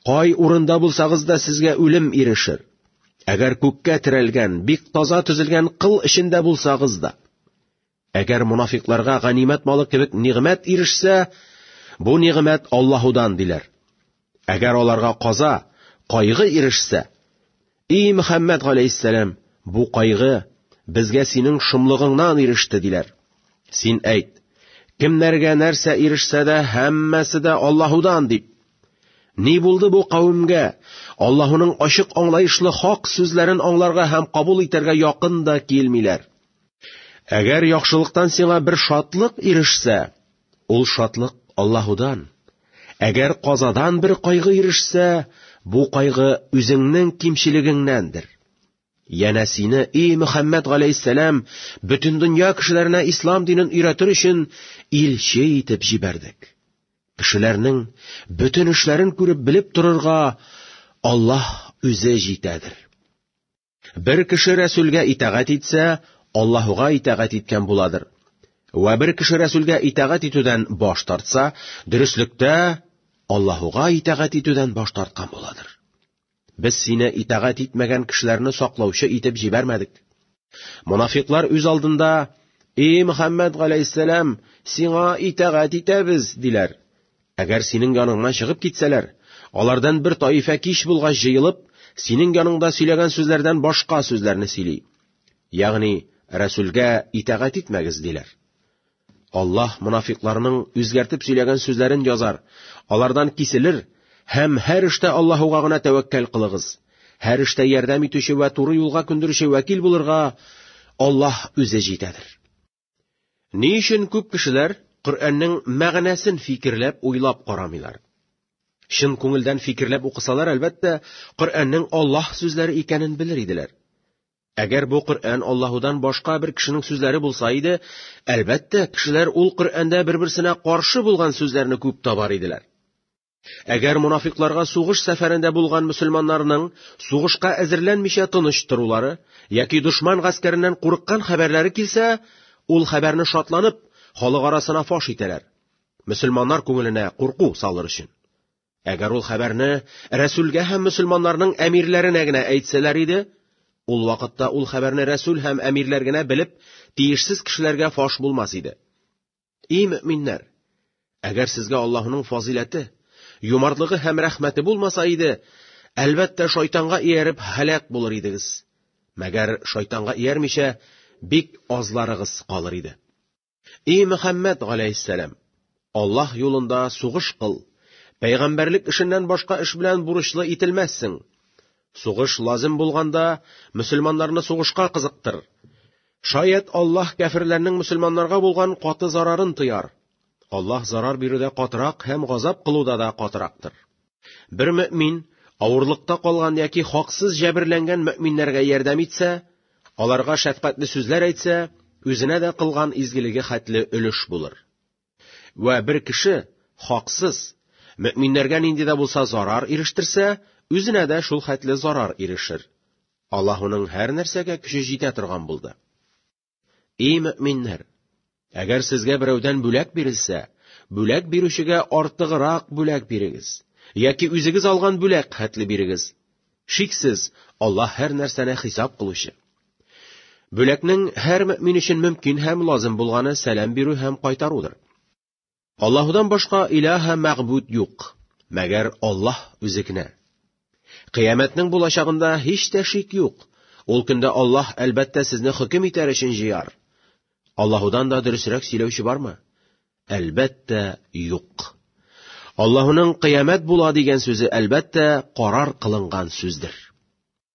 Кай урында булсагыз да сезгә үлем ирешер. Әгәр күккә терәлгән, бик таза төзелгән кыл эчендә булсагыз да. Әгәр монафикларга ганимәт малы кебек нигъмәт ирешсә, бу нигъмәт Аллаһудан диләр. Әгәр аларга каза, кайгы ирешсә, и Мөхәммәд галәйһиссәлам, бу кайгы безгә синең шомлыгыңнан иреште диләр. Син әйт, кемнәргә нәрсә ирешсә дә, һәммәсе дә Аллаһудан дип. Ни булды бу кавемгә? Аллаһуның ачык аңлаешлы хак сүзләрен аңларга һәм кабул итәргә якын да килмиләр. Әгәр яхшылыктан сиңа бер шатлык ирешсә, ул шатлык Аллаһудан. Әгәр казадан бер кайгы ирешсә, бу кайгы үзеңнең кимчелегеңнәндер. Янә сине, и Мөхәммәд галәйһиссәлам, бөтен дөнья кешеләренә ислам динен өйрәтер өчен илче итеп җибәрдек. Кешеләрнең бөтен эшләрен күреп белеп торырга Аллаһ үзе җитәдер. Бер кеше Рәсүлгә итагать итсә, Аллаһуга итагать иткән буладыр. Вә бер кеше Рәсүлгә итагать итүдән баш тартса, дөреслектә Аллаһуга итагать итүдән баш тарткан буладыр. Без сине итагать итмәгән кешеләрне саклаучы итеп җибәрмәдек. Монафиклар үз алдында, «И Мөхәммәд галәйһиссәлам, сиңа итагать итәбез», диләр. Әгәр синең яныңнан чыгып китсәләр, алардан бер таифә кич булгач җыелып, синең яныңда сөйләгән сүзләрдән башка сүзләрне сөйли. Ягъни, Рәсүлгә итагать итмәгез, диләр. Аллаһ мунафикларның үзгәртеп сөйләгән сүзләрен язар, алардан киселер һәм һәр эштә Аллаһуга гына тәвәккәл кылыгыз. Һәр эштә ярдәм итүче вә туры юлга күндерүче вәкил булырга Аллаһ үзе җитәдер. Ни өчен күп кешеләр Коръәннең мәгънәсен фикерләп, уйлап карамыйлар? Чын күңелдән фикерләп укысалар, әлбәттә, Коръәннең Аллаһ сүзләре икәнен белер иделәр. Әгәр бу Коръән Аллаһудан башка бер кешенең сүзләре булса иде, әлбәттә, кешеләр ул Коръәндә бер-берсенә каршы булган сүзләрне күп табар иделәр. Әгәр монафикларга сугыш сәфәрендә булган мөселманнарның сугышка әзерләнмичә тыныч торулары яки дошман гаскәреннән курыккан хәбәрләре килсә, ул хәбәрне шатланып, халык арасына фаш итәләр. Мөселманнар күңеленә курку салыр өчен. Әгәр ул хәбәрне Рәсүлгә һәм мөселманнарның әмирләренә генә әйтсәләр иде, ул вакытта ул хәбәрне Рәсүл һәм әмирләр генә белеп, тиешсез кешеләргә фаш булмас иде. Эй мөминнәр, әгәр сезгә Аллаһының фазиләте, юмартлыгы һәм рәхмәте булмаса иде, әлбәттә шайтанга ияреп һәлак булыр идегез. Мәгәр шайтанга иярмичә бик азларыгыз калыр иде. Эй Мөхәммәд галәйһиссәлам, Аллаһ юлында сугыш кыл. Пәйгамбәрлек эшеннән башка эш белән бурычлы ителмәссең. Сугыш лазим булганда, мөселманнарны сугышка кызыктыр. Шаят Аллаһ кәфирләрнең мөселманнарга булган каты зарарын тыяр. Аллаһ зарар бирүдә катырак һәм газап кылуда да катырактыр. Бер мөмин авырлыкта калган яки хаксыз җәберләнгән мөминнәргә ярдәм итсә, аларга шәфкатьле сүзләр әйтсә, үзенә дә кылган изгелеге хәтле өлеш булыр. Вә бер кеше, хаксыз, мөминнәргә нинди дә булса зарар ирештерсә, үзенә дә шул хәтле зарар ирешер. Аллаһуның һәр нәрсәгә көче җитә торган булды. И мөминнәр, әгәр сезгә берәүдән бүләк бирелсә, бүләк бирүчегә артыграк бүләк бирегез, яки үзегез алган бүләк хәтле бирегез. Шиксез, Аллаһ һәр нәрсәне хисап кылучы. Бүләкнең һәр мөмин өчен мөмкин һәм лазым булганы сәлам бирү һәм кайтарудыр. Аллаһудан башка илаһа мәгъбуд юк, мәгәр Аллаһ үзе генә. Кыяметнең булачагында һич тә шик юк. Ул көндә Аллаһ әлбәттә сезне хөкем итәр өчен җыяр. Аллаһудан да дөресрәк сөйләүче бармы? Әлбәттә, юк. Аллаһуның кыямәт була дигән сүзе әлбәттә карар кылынган сүздер.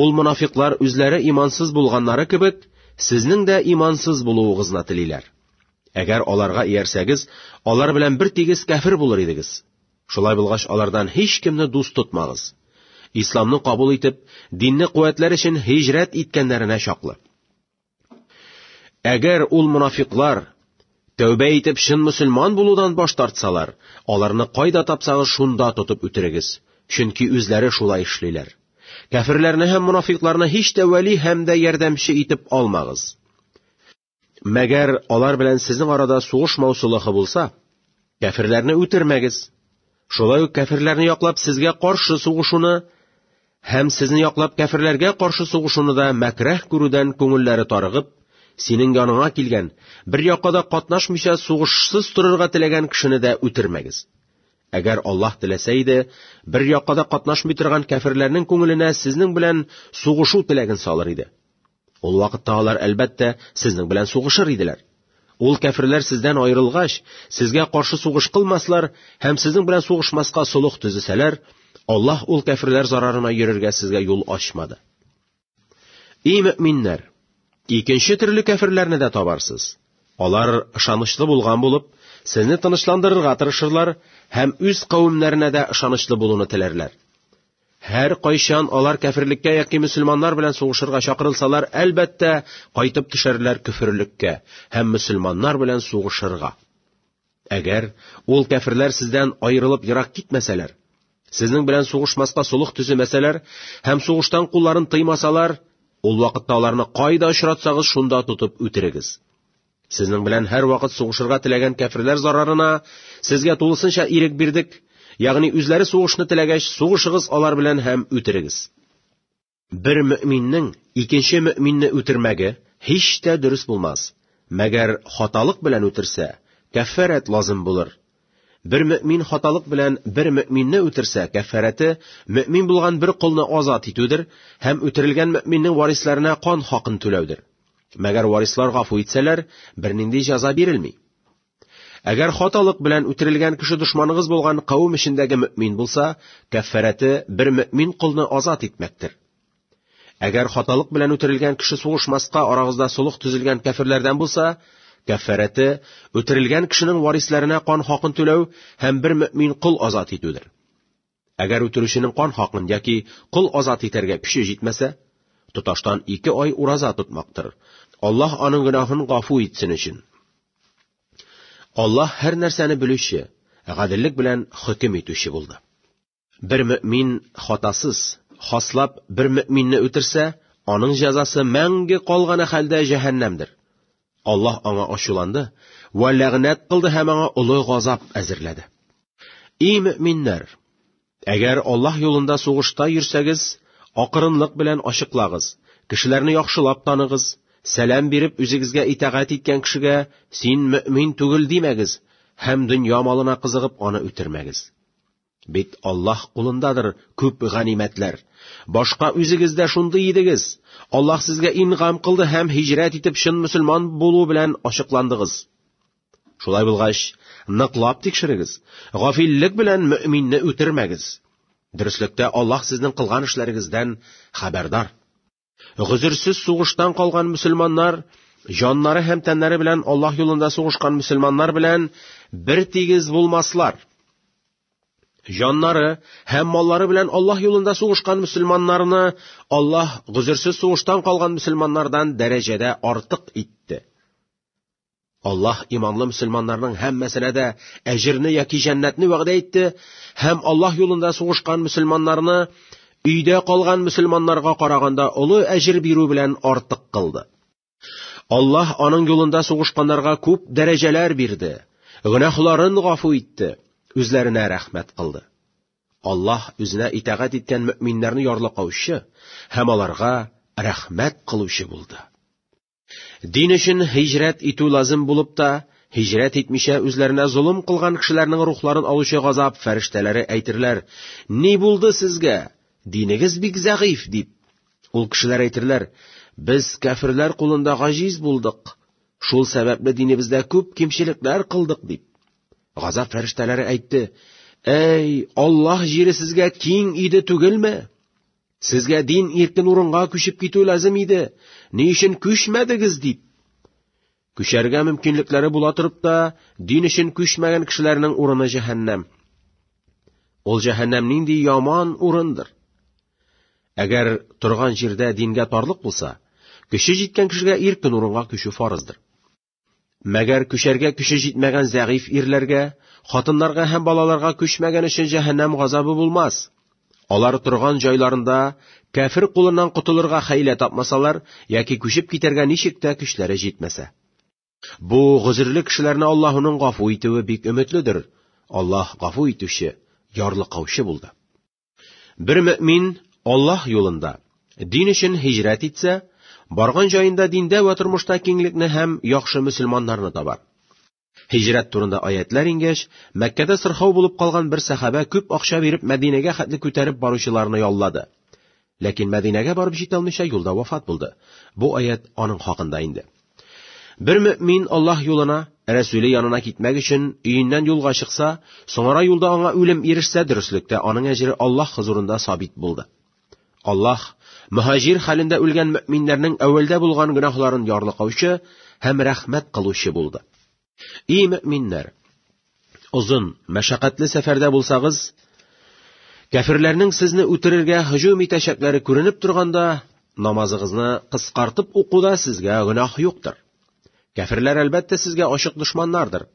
Ул монафиклар үзләре имансыз булганнары кебек, сезнең дә имансыз булуыгызны телиләр. Әгәр аларга иярсәгез, алар белән бер тигез кәфир булыр идегез. Шулай булгач, алардан һич кемне дус тотмагыз. Исламны кабул итеп, динне куәтләр өчен һиҗрәт иткәннәренә чаклы. Әгәр ул мунафиклар тәүбә итеп чын мусульман булудан баш тартсалар, аларны кайда тапсагыз шунда тотып үтерегез, чөнки үзләре шулай эшлиләр. Кәферләрне һәм мунафикларны һич тә вәли һәм дә ярдәмче итеп алмагыз. Мәгәр алар белән сезнең арада сугыш маусулыхы булса, кәферләрне үтермәгез. Шулай ук кәферләрне яклап сезгә каршы сугышуны һәм сезне яклап кәферләргә каршы сугышуны да мәкраһ күрүдән күңелләре тарыгып, синең яныңа килгән, бер якада катнашмыйча сугышсыз торырга теләгән кешене дә үтермәгез. Әгәр Аллаһ теләсә иде, бер якада катнашмый торган кәферләрнең күңеленә сезнең белән сугышу теләген салыр иде. Ул вакытта алар, әлбәттә, сезнең белән сугышыр иделәр. Ул кәферләр сездән аерылгач, сезгә каршы сугыш кылмаслар һәм сезнең белән сугышмаска солых төзесәләр, Аллаһ ул кәферләр зарарына йөрергә сезгә юл ачмады. И мөминнәр, икенче төрле кәферләрне дә табарсыз. Алар ышанычлы булган булып, сезне тынычландырырга тырышырлар һәм үз кавемнәренә дә ышанычлы булуны теләрләр. Һәркайчан алар кәферлеккә яки мөселманнар белән сугышырга чакырылсалар, әлбәттә, кайтып төшәрләр көферлеккә һәм мөселманнар белән сугышырга. Әгәр ул кәферләр сездән аерылып ерак китмәсәләр, сезнең белән сугышмаска сулык төземәсәләр һәм сугыштан кулларын тыймасалар, ул вакытта аларны кайда очратсагыз, шунда тотып үтерегез. Сезнең белән һәрвакыт сугышырга теләгән кәферләр зарарына сезгә тулысынча ирек бирдек, ягъни үзләре сугышны теләгәч, сугышыгыз алар белән һәм үтерегез. Бер мөэминнең икенче мөэминне үтермәге һич тә дөрес булмас. Мәгәр хаталык белән үтерсә, кәффәрәт лазым булыр. Бер мөэмин хаталык белән бер мөэминне үтерсә, кәффәрәте мөэмин булган бер колны азат итүдер һәм үтерелгән мөэминнең варисләренә кан хакын түләүдер. Мәгәр варислар гафу итсәләр, бернинди җәза бирелми. Әгәр хаталык белән үтерелгән кеше дошманыгыз булган кавым эчендәге мөмин булса, кәффәрәте бер мөмин колны азат итмәктер. Әгәр хаталык белән үтерелгән кеше сугышмаска арагызда сулык төзелгән кәферләрдән булса, кәффәрәте үтерелгән кешенең варисләренә кан хакын түләү һәм бер мөмин кол азат итүдер. Әгәр үтерүченең кан хакын яки кол азат итәргә көче җитмәсә, тоташтан ике ай ураза тотмактыр. Аллаһ аның гөнаһын гафу итсен өчен. Аллаһ һәр нәрсәне белүче, гаделлек белән хөкем итүче булды. Бер мөмин хатасыз, хаслап бер мөминне үтерсә, аның җәзасы мәңге калганы хәлдә җәһәннәмдер. Аллаһ аңа ачуланды вә ләгънәт кылды һәм аңа олы газап әзерләде. И мөминнәр, әгәр Аллаһ юлында сугышта йөрсәгез, акырынлык белән ачыклагыз, кешеләрне яхшылап таныгыз, сәлам биреп үзегезгә итагать иткән кешегә син мөмин түгел димәгез һәм дөнья малына кызыгып аны үтермәгез. Бит Аллаһ кулындадыр күп ганимәтләр. Башка үзегез дә шундый идегез. Аллаһ сезгә ингам кылды һәм һиҗрәт итеп чын мөселман булу белән ачыкландыгыз. Шулай булгач, ныклап тикшерегез. Гафиллек белән мөэминне үтермәгез. Дөреслектә Аллаһ сезнең кылган эшләрегездән хәбәрдар. Гозерсез сугыштан калган мөселманнар җаннары һәм тәннәре белән Аллаһ юлында сугышкан мөселманнар белән бер тигез булмаслар. Җаннары һәм маллары белән Аллаһ юлында сугышкан мөселманнарны Аллаһ гозерсез сугыштан калган мөселманнардан дәрәҗәдә артык итте. Аллаһ иманлы мөселманнарның һәммәсенә дә әҗерне яки җәннәтне вәгъдә итте һәм Аллаһ юлында сугышкан мөселманнарны өйдә калган мөселманнарга караганда олы әҗер бирү белән артык кылды. Аллаһ аның юлында сугышканнарга күп дәрәҗәләр бирде, гөнаһларын гафу итте, үзләренә рәхмәт кылды. Аллаһ үзенә итагать иткән мөэминнәрне ярлыкаучы һәм аларга рәхмәт кылучы булды. Дин өчен һиҗрәт итү лазым булып та, һиҗрәт итмичә үзләренә золым кылган кешеләрнең рухларын алучы газап фәрештәләре әйтерләр, «Ни булды сезгә? Динегез бик зәгыйф», дип. Ул кешеләр әйтерләр, «Без кәферләр кулында гаҗиз булдык. Шул сәбәпле динебездә күп кимчелекләр кылдык», дип. Газап фәрештәләре әйтте, «Әй, Аллаһ җире сезгә киң иде түгелме?» Сезгә дин иркен урынга күчеп китү ләзем иде. Ни өчен күчмәдегез дип? Күчәргә мөмкинлекләре була торып та, дин өчен күчмәгән кешеләрнең урыны җәһәннәм. Ул җәһәннәм нинди яман урындыр. Әгәр торган җирдә дингә тарлык булса, көче җиткән кешегә иркен урынга күчү фарыздыр. Мәгәр көчәргә көче җитмәгән зәгыйф ирләргә, хатыннарга һәм балаларга күчмәгән өчен җәһәннәм газабы булмас. Алар торган җайларында кәфир кулыннан котылырга хәйлә тапмасалар яки күчеп китәргә ничек тә көчләре җитмәсә. Бу гозерле кешеләрне Аллаһуның гафу итүе бик өметледер. Аллаһ гафу итүче, ярлыкаучы булды. Бер мөмин Аллаһ юлында, дин өчен һиҗрәт итсә, барган җаенда диндә вә тормышта киңлекне һәм яхшы мөселманнарны табар. Һиҗрәт турында аятлар ингәч, Мәккәдә сырхау булып калган бер сәхабә күп акча биреп Мәдинәгә хәтле күтәреп баручыларны яллады. Ләкин Мәдинәгә барып җитә алмыйча юлда вафат булды. Бу аять аның хакында инде. Бер мөэмин Аллаһ юлына, Рәсүле янына китмәк өчен өеннән юлга чыкса, соңара юлда аңа үлем ирешсә, дөреслектә аның әҗере Аллаһ хозурында сабит булды. Аллаһ мөхаҗир хәлендә үлгән мөэминнәрнең әүвәлдә булган гөнаһларын ярлыкаучы һәм рәхмәт кылучы булды. И мөминнәр! Озын, мәшәкатьле сәфәрдә булсагыз, кәфирләрнең сезне үтерергә һөҗүм итәчәкләре күренеп торганда, намазыгызны кыскартып укуда сезгә гөнаһ юктыр. Кәфирләр әлбәттә сезгә ачык дошманнардыр.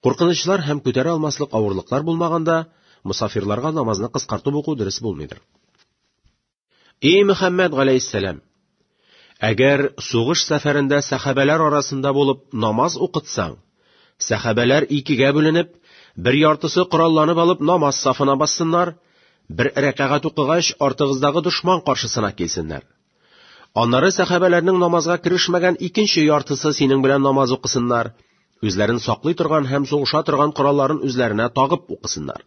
Куркынычлар һәм күтәрә алмаслык авырлыклар булмаганда, мусафирларга намазны кыскартып уку дөрес булмыйдыр. Эй Мөхәммәд галәйһиссәлам! Әгәр сугыш сәфәрендә сәхабәләр арасында булып намаз укытсаң, сәхабәләр икегә бүленеп, бер яртысы коралланып алып намаз сафына бассыннар, бер рәкәгать укыгач, артыгыздагы дошман каршысына килсеннәр. Аннары сәхабәләрнең намазга керешмәгән икенче яртысы синең белән намаз укысыннар, үзләрен саклый торган һәм сугыша торган коралларын үзләренә тагып укысыннар.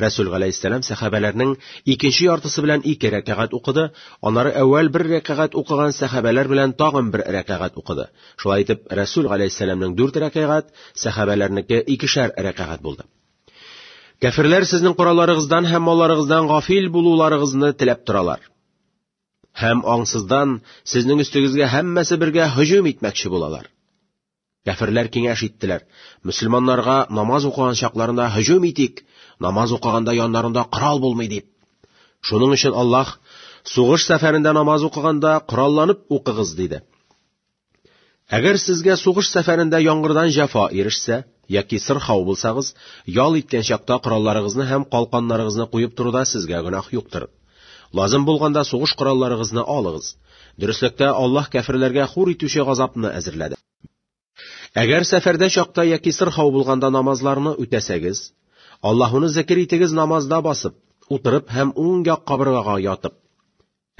Рәсүл галәйһиссәлам сәхабәләрнең икенче яртысы белән ике рәкәгать укыды, аннары әүвәл бер рәкәгать укыган сәхабәләр белән тагын бер рәкәгать укыды. Шулай итеп, Рәсүл галәйһиссәламнең дүрт рәкәгать, сәхабәләрнеке икешәр рәкәгать булды. Кәферләр сезнең коралларыгыздан һәм малларыгыздан гафил булуларыгызны теләп торалар. Һәм аңсыздан сезнең өстегезгә һәммәсе бергә һөҗүм итмәкче булалар. Кәферләр киңәш иттеләр, Мөселманнарга намаз укыган чакларында һөҗүм итик, намаз укыганда яннарында корал булмый дип. Шуның өчен Аллаһ, Сугыш сәфәрендә намаз укыганда коралланып укыгыз, диде. Әгәр сезгә сугыш сәфәрендә яңгырдан җәфа ирешсә, яки сырхау булсагыз, ял иткән чакта коралларыгызны һәм калканнарыгызны куеп торуда сезгә гөнаһ юктыр. Лазым булганда сугыш коралларыгызны алыгыз. Дөреслектә, Аллаһ кәферләргә хур итүче газапны әзерләде. Әгәр сәфәрдә чакта яки сырхау булганда намазларны үтәсәгез, Аллаһуны зекер итегез намазда басып, утырып һәм уң як кабыргага ятып.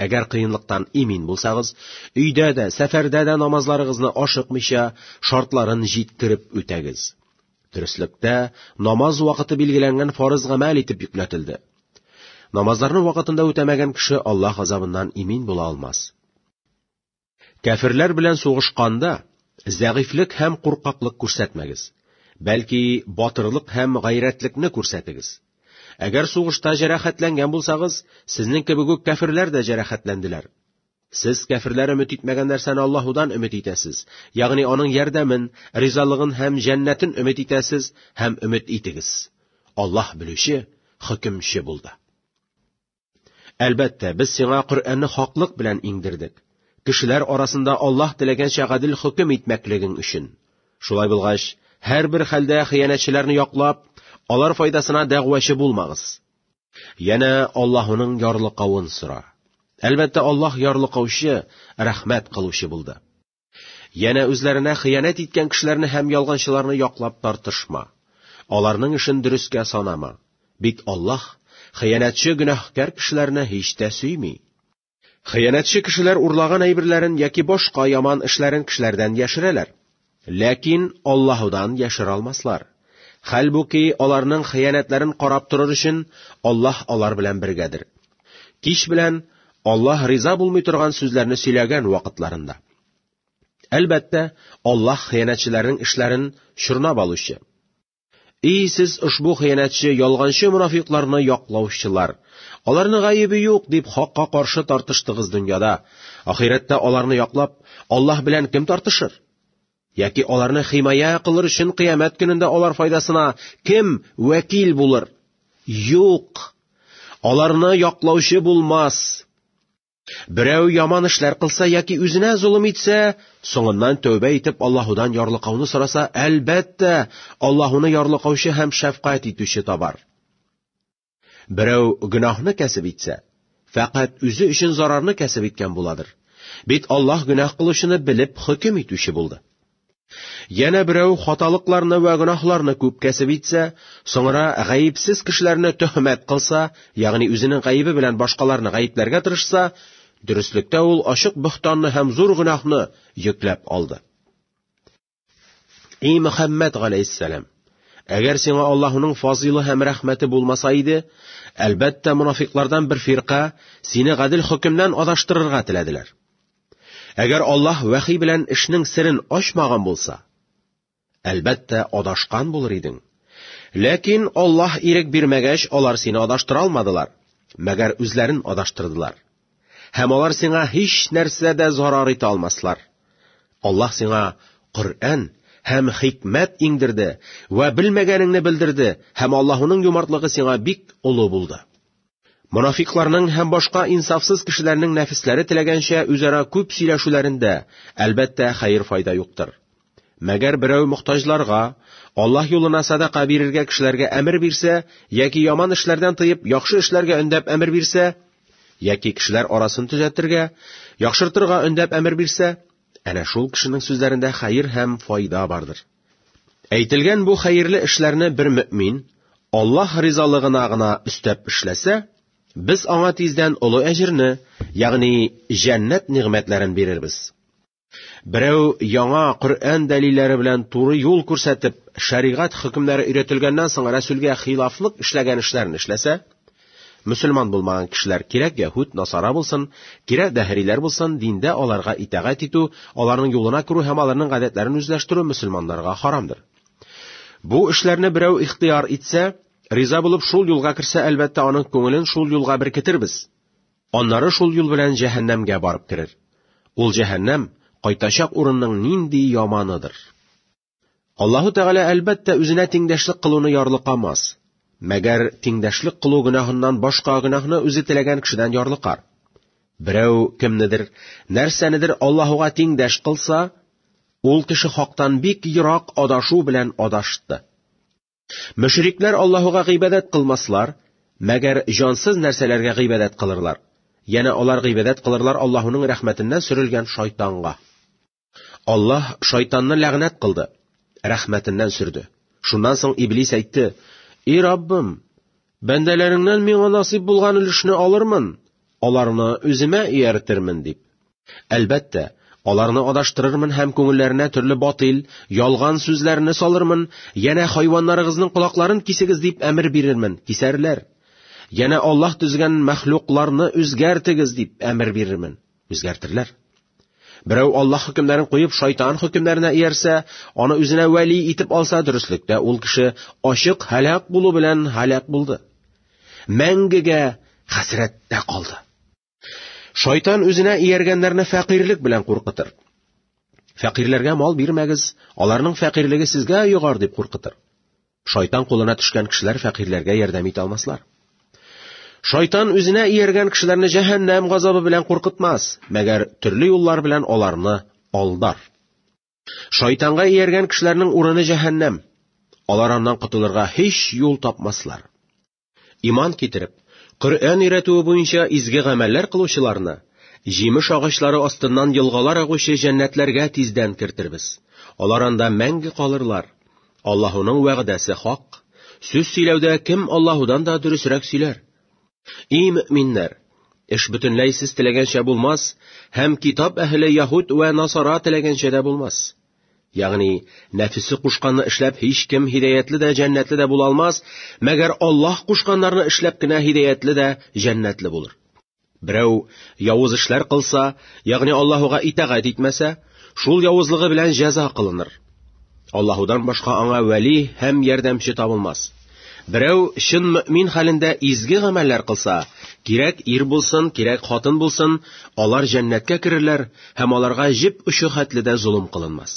Әгәр кыенлыктан имин булсагыз, өйдә дә, сәфәрдә дә намазларыгызны ашыкмыйча, шартларын җиткереп үтәгез. Дөреслектә, намаз вакыты билгеләнгән фарыз гамәл итеп йөкләтелде. Намазларны вакытында үтәмәгән кеше Аллаһ азабыннан имин була алмас. Кәферләр белән сугышканда зәгыйфлек һәм куркаклык күрсәтмәгез. Бәлки, батырлык һәм гайрәтлекне күрсәтегез. Әгәр сугышта җәрәхәтләнгән булсагыз, сезнең кебек үк кәферләр дә җәрәхәтләнделәр. Сез кәферләр өмет итмәгән нәрсәне Аллаһудан өмет итәсез, ягъни аның ярдәмен, ризалыгын һәм җәннәтен өмет итәсез һәм өмет итегез. Аллаһ белүче, хөкемче булды. Әлбәттә, без сиңа Коръәнне хаклык белән иңдердек. Кешеләр арасында Аллаһ теләгәнчә гадел хөкем итмәклегең өчен. Шулай булгач, һәрбер хәлдә хыянәтчеләрне яклап, алар файдасына дәгъвачы булмагыз. Янә Аллаһының ярлыкавын сора. Әлбәттә, Аллаһ ярлыкаучы, рәхмәт кылучы булды. Янә үзләренә хыянәт иткән кешеләрне һәм ялганчыларны яклап тартышма. Аларның эшен дөрескә санама. Бит Аллаһ хыянәтче гөнаһкәр кешеләрне һич тә сөйми. Хыянәтче кешеләр урлаган әйберләрен яки башка яман эшләрен кешеләрдән яшерәләр. Ләкин Аллаһудан яшерә алмаслар. Хәлбуки аларның хыянәтләрен карап торыр өчен Аллаһ алар белән бергәдер. Кич белән Аллаһ риза булмый торган сүзләрне сөйләгән вакытларында. Әлбәттә, Аллаһ хыянәтчеләрнең эшләрен чорнап алучы. И сез ошбу хыянәтче ялганчы мунафикларны яклаучылар! Аларны гаебе юк дип хакка каршы тартыштыгыз дөньяда. Ахирәттә аларны яклап, Аллаһ белән кем тартышыр? Яки аларны химая кылыр өчен кыямәт көнендә алар файдасына кем вәкил булыр? Юк! Аларны яклаучы булмас! Берәү яман эшләр кылса яки үзенә золым итсә, соңыннан тәүбә итеп Аллаһудан ярлыкауны сораса, әлбәттә, Аллаһуны ярлыкаучы һәм шәфкать итүче табар. Берәү гөнаһны кәсеп итсә, фәкать үзе өчен зарарны кәсеп иткән буладыр. Бит Аллаһ гөнаһ кылучыны белеп хөкем итүче булды. Янә берәү хаталыкларны вә гөнаһларны күп кәсеп итсә, соңра гаепсез кешеләрне төһмәт кылса, ягъни үзенең гаебе белән башкаларны гаепләргә тырышса, дөреслектә ул ачык бөхтанны һәм зур гөнаһны йөкләп алды. И Мөхәммәд галәйһиссәлам, әгәр сиңа Аллаһуның фазилы һәм рәхмәте булмаса иде, әлбәттә, мунафиклардан бер фирка сине гадел хөкемнән адаштырырга теләделәр. Әгәр Аллаһ вәхи белән эшнең серен ачмаган булса, әлбәттә, адашкан булыр идең. Ләкин Аллаһ ирек бирмәгәч, алар сине адаштыра алмадылар, мәгәр үзләрен адаштырдылар. Һәм алар сиңа һич нәрсә дә зарар итә алмаслар. Аллаһ сиңа Коръән һәм хикмәт иңдерде вә белмәгәнеңне белдерде, һәм Аллаһуның юмартлыгы сиңа бик олы булды. Монафикларның һәм башка инсафсыз кешеләрнең нәфесләре теләгәнчә үзара күп сөйләшүләрендә, әлбәттә, хәер файда юктыр. Мәгәр берәү мохтаҗларга, Аллаһ юлына садака бирергә кешеләргә әмер бирсә, яки яман эшләрдән тыеп, яхшы эшләргә өндәп әмер бирсә, яки кешеләр арасын төзәтергә, яхшыртырга өндәп әмер бирсә, әнә шул кешенең сүзләрендә хәер һәм файда бардыр. Әйтелгән бу хәерле эшләрне бер мөмин Аллаһ ризалыгына гына өстәп эшләсә, без аңа тиздән олы әҗерне, ягъни җәннәт нигъмәтләрен бирербез. Берәү яңа Коръән дәлилләре белән туры юл күрсәтеп, шәригать хөкемнәре өйрәтелгәннән соң Рәсүлгә хилафлык эшләгән эшләрен эшләсә, Мөселман булмаган кешеләр кирәк яһүд, насара булсын, кирәк дәһриләр булсын, диндә аларга итәгать итү, аларның юлына керү һәм аларның гадәтләрен үзләштерү мөселманнарга харамдыр. Бу эшләрне берәү ихтыяр итсә, риза булып шул юлга керсә, әлбәттә, аның күңелен шул юлга беркетербез. Аннары шул юл белән җәһәннәмгә барып керер. Ул җәһәннәм, кайтачак урынның нинди яманыдыр! Аллаһу Тәгалә әлбәттә үзенә тиңдәшлек кылуны ярлыкамас. Мәгәр тиңдәшлек кылу гөнаһыннан башка гөнаһны үзе теләгән кешедән ярлыкар. Берәү кемнедер, нәрсәнедер Аллаһуга тиңдәш кылса, ул кеше хактан бик ерак адашу белән адашты. Мөшрикләр Аллаһуга гыйбадәт кылмаслар, мәгәр җансыз нәрсәләргә гыйбадәт кылырлар. Яна алар гыйбадәт кылырлар Аллаһуның рәхмәтеннән сөрелгән шайтанга. Аллаһ шайтанны ләгънәт кылды, рәхмәтеннән сөрде. Шуннан соң Иблис әйтте, «И Раббым, бәндәләреңнән миңа насыйп булган өлешне алырмын, аларны үземә ияртермен», дип. Әлбәттә, аларны адаштырырмын һәм күңелләренә төрле батил, ялган сүзләрне салырмын, янә хайваннарыгызның колакларын кисегез дип әмер бирермен, кисәрләр. Янә Аллаһ төзгән мәхлукларны үзгәртегез дип әмер бирермен. Үзгәртерләр. Берәү Аллаһ хөкемнәрен куеп шайтан хөкемнәренә иярсә, аны үзенә вәли итеп алса, дөреслектә ул кеше ачык һәлак булу белән һәлак булды. Мәңгегә хәсрәттә калды. Шайтан үзенә ияргәннәрне фәкыйрлек белән куркытыр. Фәкыйрләргә мал бирмәгез, аларның фәкыйрлеге сезгә йогар дип куркытыр. Шайтан кулына төшкән кешеләр фәкыйрьләргә ярдәм итә алмаслар. Шайтан үзенә ияргән кешеләрне җәһәннәм газабы белән куркытмас, мәгәр төрле юллар белән аларны алдар. Шайтанга ияргән кешеләрнең урыны җәһәннәм. Алар аннан котылырга һич юл тапмаслар. Иман китереп, Коръән өйрәтүе буенча изге гамәлләр кылучыларны җимеш агачлары астыннан елгалар агучы җәннәтләргә тиздән кертербез. Алар анда мәңге калырлар. Аллаһуның вәгъдәсе хак. Сүз сөйләүдә кем Аллаһудан да дөресрәк сөйләр? И мөминнәр, эш бөтенләй сез теләгәнчә булмас, һәм китап әһеле яһүд вә насара теләгәнчә дә булмас. Ягъни, нәфесе кушканны эшләп һич кем һидаятле дә, җәннәтле дә була алмас, мәгәр Аллаһ кушканнарны эшләп кенә һидаятле дә, җәннәтле булыр. Берәү явыз эшләр кылса, ягъни Аллаһуга итагать итмәсә, шул явызлыгы белән җәза кылыныр. Аллаһудан башка аңа вәли һәм ярдәмче табылмас. Берәү чын мөмин хәлендә изге гамәлләр кылса, кирәк ир булсын, кирәк хатын булсын, алар җәннәткә керерләр һәм аларга җеп очы хәтле дә золым кылынмас.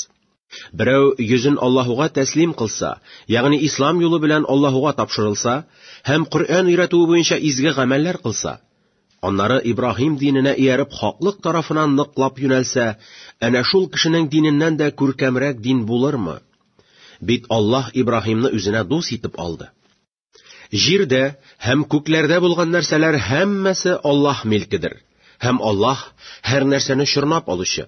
Берәү йөзен Аллаһуга тәслим кылса, ягъни ислам юлы белән Аллаһуга тапшырылса һәм Коръән өйрәтүе буенча изге гамәлләр кылса, Аннары Ибраһим диненә ияреп хаклык тарафына ныклап юнәлсә, әнә шул кешенең диненнән дә күркәмрәк дин булырмы? Бит Аллаһ Ибраһимны үзенә дус итеп алды. Җирдә һәм күкләрдә булган нәрсәләр һәммәсе Аллаһ милкедер, һәм Аллаһ һәр нәрсәне чорнап алучы.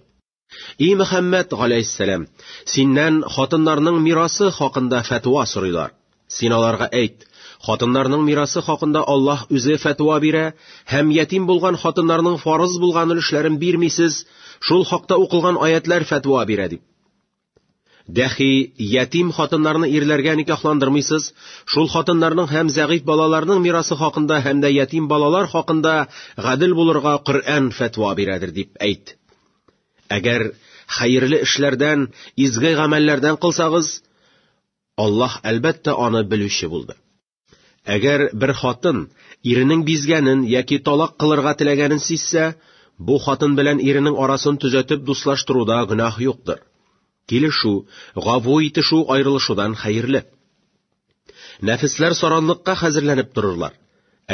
И Мөхәммәд галәйһиссәлам, синнән хатыннарның мирасы хакында фәтва сорыйлар. Син аларга әйт, хатыннарның мирасы хакында Аллаһ үзе фәтва бирә, һәм ятим булган хатыннарның фарыз булган өлешләрен бирмисез, шул хакта укылган аятләр фәтва бирә дип. Дәхи, ятим хатыннарны ирләргә никахландырмыйсыз, шул хатыннарның һәм зәгыйф балаларның мирасы хакында һәм дә ятим балалар хакында гадел булырга Коръән фәтва бирәдер дип әйт. Әгәр хәерле эшләрдән, изге гамәлләрдән кылсагыз, Аллаһ әлбәттә аны белүче булды. Әгәр бер хатын иренең бизгәнен яки талак кылырга теләгәнен сизсә, бу хатын белән иренең арасын төзәтеп дуслаштыруда гөнаһ юктыр. Килешү, гаву итешү аерылышудан хәерле. Нәфесләр саранлыкка хәзерләнеп торырлар.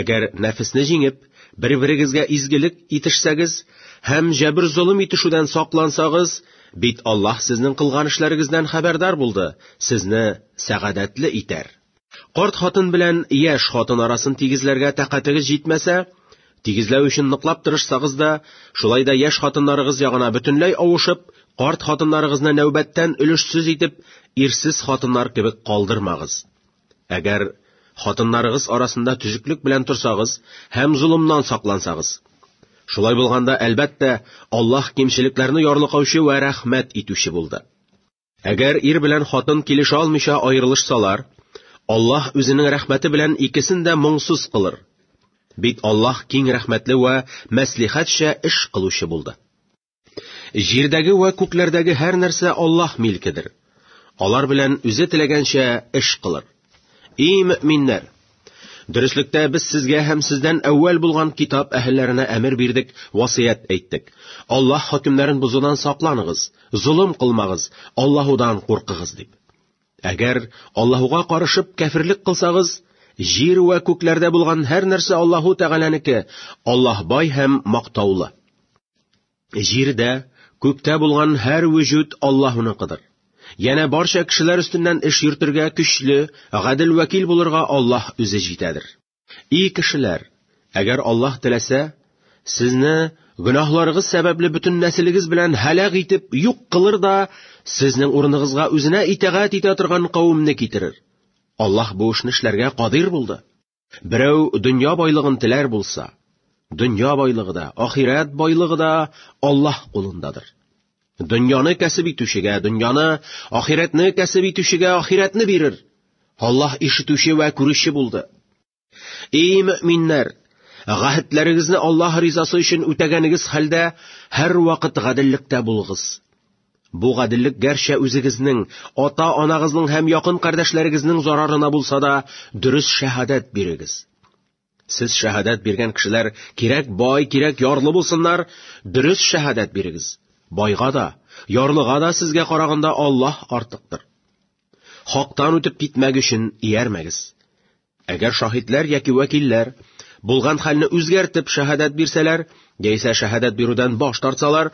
Әгәр нәфесне җиңеп, бер-берегезгә изгелек итешсәгез һәм җәбер золым итешүдән саклансагыз, бит Аллаһ сезнең кылган эшләрегездән хәбәрдар булды, сезне сәгадәтле итәр. Карт хатын белән яшь хатын арасын тигезләргә тәкатегез җитмәсә, тигезләү өчен ныклап тырышсагыз да, шулай да яшь хатыннарыгыз ягына бөтенләй авышып, карт хатыннарыгызны нәүбәттән өлешсез итеп, ирсез хатыннар кебек калдырмагыз. Әгәр хатыннарыгыз арасында төзеклек белән торсагыз һәм золымнан саклансагыз, Шулай булганда, әлбәттә, Аллаһ кимчелекләрне ярлыкаучы вә рәхмәт итүче булды. Әгәр ир белән хатын килешә алмыйча аерылышсалар, Аллаһ үзенең рәхмәте белән икесен дә моңсыз кылыр. Бит Аллаһ киң рәхмәтле вә мәслихәтчә эш кылучы булды. Җирдәге вә күкләрдәге һәр нәрсә Аллаһ милкедер. Алар белән үзе теләгәнчә эш кылыр. Эй, мөминнәр! Дөреслектә без сезгә һәм сездән әүвәл булган китап әһелләренә әмер бирдек, васыять әйттек. Аллаһ хөкемнәрен бозудан сакланыгыз, золым кылмагыз, Аллаһудан куркыгыз дип. Әгәр Аллаһуга карышып кәфирлек кылсагыз, җир вә күкләрдә булган һәр нәрсә Аллаһу Тәгаләнеке, Аллаһ бай һәм мактаулы. Җирдә, күктә булган һәр вөҗүд Аллаһуныкыдыр. Янә барча кешеләр өстеннән эш йөртергә көчле, гадел вәкил булырга Аллаһ үзе җитәдер. И кешеләр, әгәр Аллаһ теләсә, сезне гөнаһларыгыз сәбәпле бөтен нәселегез белән һәлак итеп юк кылыр да, сезнең урыныгызга үзенә итагать итә торган кавемне китерер. Аллаһ бу эшне эшләргә кадир булды. Берәү дөнья байлыгын теләр булса, дөнья байлыгы да, ахирәт байлыгы да Аллаһ кулындадыр. Дөньяны кәсеп итүчегә дөньяны, ахирәтне кәсеп итүчегә ахирәтне бирер. Аллаһ ишетүче вә күрүче булды. Эй мөминнәр, гәһетләрегезне Аллаһ ризасы өчен үтәгәнегез хәлдә һәрвакыт гаделлектә булыгыз. Бу гаделлек гәрчә үзегезнең, ата-анагызның һәм якын кардәшләрегезнең зарарына булса да, дөрес шәһадәт бирегез. Сез шәһадәт биргән кешеләр кирәк бай, кирәк ярлы булсыннар, дөрес шәһадәт бирегез. Байга да, ярлыга да сезгә караганда Аллаһ артыктыр. Хактан үтеп китмәг өчен иярмәгез. Әгәр шаһитләр яки вәкилләр булган хәлне үзгәртеп шәһадәт бирсәләр, яисә шәһадәт бирүдән баш тартсалар,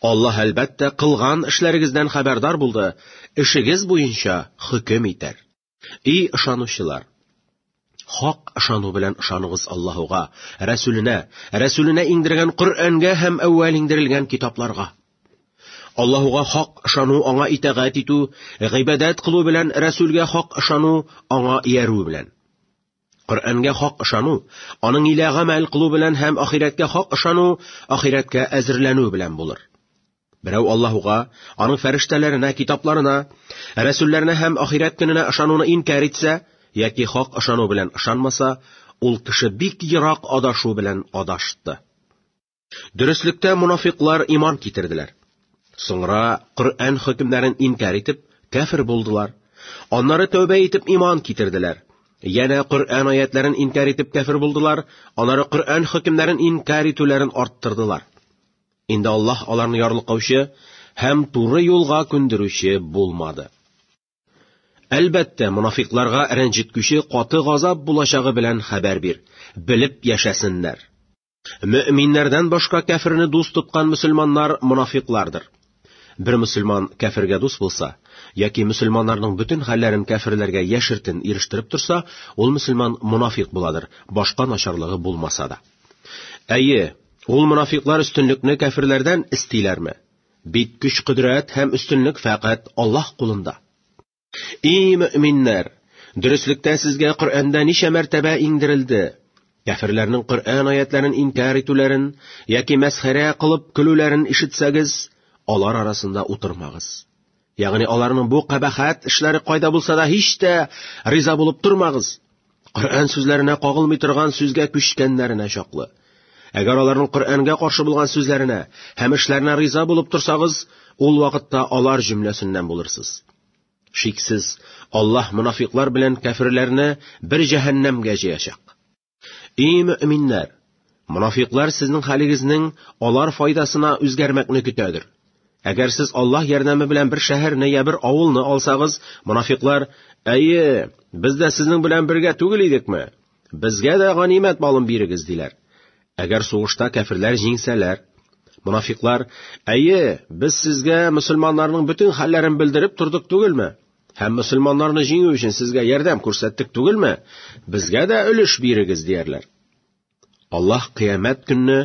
Аллаһ әлбәттә кылган эшләрегездән хәбәрдар булды, эшегез буенча хөкем итәр. И ышанучылар! Хак ышану белән ышаныгыз Аллаһуга, Рәсүленә, Рәсүленә иңдергән Коръәнгә һәм әүвәл иңдерелгән китапларга. Аллаһуга хак ышану аңа итагать итү, гыйбадәт кылу белән Рәсүлгә хак ышану аңа иярү белән. Коръәнгә хак ышану, аның илә гамәл кылу белән һәм ахирәткә хак ышану, ахирәткә әзерләнү белән булыр. Берәү Аллаһуга, аның фәрештәләренә, китапларына, рәсүлләренә һәм ахирәт көненә ышануны инкар итсә, яки хак ышану белән ышанмаса, ул кеше бик ерак адашу белән адашты. Дөреслектә мунафиклар иман китерделәр. Соңра Коръән хөкемнәрен инкар итеп, кәфир булдылар. Аннары тәүбә итеп иман китерделәр. Янә Коръән аятларын инкар итеп кәфир булдылар, анары Коръән хөкемнәрен инкар итүләрен арттырдылар. Инде Аллаһ аларны ярлыкаучы һәм туры юлга күндерүче булмады. Әлбәттә, мунафикларга рәнҗеткүче каты газап булачагы белән хәбәр бир, белеп яшәсеннәр. Мөэминнәрдән башка кәферне дус тоткан мөселманнар монафиклардыр. Бер мөселман кәфергә дус булса, яки мөселманнарның бөтен хәлләрен кәферләргә яшертен ирештереп торса, ул мөселман монафик буладыр, башка начарлыгы булмаса да. Әйе, ул монафиклар өстенлекне кәферләрдән истиләрме? Бит көч-кодрәт һәм өстенлек фәкать Аллаһ кулында. И мөминнәр, дөреслектә сезгә Коръәндә ничә мәртәбә иңдерелде? Кәфирләрнең Коръән аятларын инкар итүләрен яки мәсхәрә кылып көлүләрен ишетсәгез, алар арасында утырмагыз. Ягъни аларның бу кабахат эшләре кайда булса да һич тә риза булып тормагыз. Коръән сүзләренә кагылмый торган сүзгә күчкәннәренә чаклы. Әгәр аларның Коръәнгә каршы булган сүзләренә һәм эшләренә риза булып торсагыз, ул вакытта алар җөмләсеннән булырсыз. Шиксез, Аллаһ монафиклар белән кәферләрне бер җәһәннәмгә җыячак. И мөэминнәр! Монафиклар сезнең хәлегезнең алар файдасына үзгәрмәкне көтәдер. Әгәр сез Аллаһ ярдәме белән бер шәһәрне я бер авылны алсагыз, монафиклар, әйе, без дә сезнең белән бергә түгел идекме? Безгә дә ганимәт малын бирегез, диләр. Әгәр сугышта кәферләр җиңсәләр, монафиклар, әйе, без сезгә мөселманнарның бөтен хәлләрен белдереп тордык түгелме? Һәм мөселманнарны җиңү өчен сезгә ярдәм күрсәттек түгелме? Безгә дә өлеш бирегез, диярләр. Аллаһ кыямәт көнне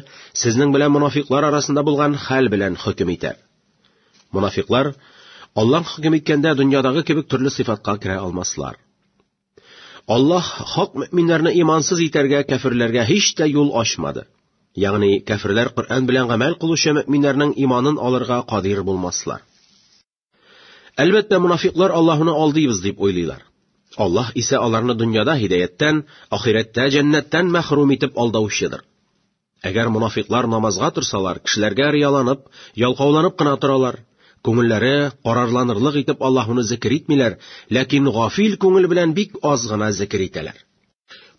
сезнең белән монафиклар арасында булган хәл белән хөкем итәр. Монафиклар Аллаһ хөкем иткәндә дөньядагы кебек төрле сыйфатка керә алмаслар. Аллаһ хак мөминнәрне имансыз итәргә, кәфирләргә һич тә юл ачмады. Ягъни кәфирләр Коръән белән гамәл кылучы мөминнәрнең иманын алырга кадир булмаслар. Әлбәттә, мунафиклар Аллаһуны алдыйбыз дип уйлыйлар. Аллаһ исә аларны дөньяда һидаяттән, ахирәттә җәннәттән мәхрүм итеп алдаучыдыр. Әгәр мунафиклар намазга торсалар, кешеләргә рияланып, ялкауланып кына торалар. Күңелләре карарланырлык итеп Аллаһуны зикер итмиләр, ләкин гафил күңел белән бик аз гына зикер итәләр.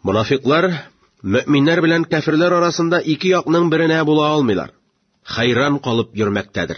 Мунафиклар мөэминнәр белән кәфирләр арасында ике якның беренә була алмыйлар. Хәйран калып йөрмәктәдер.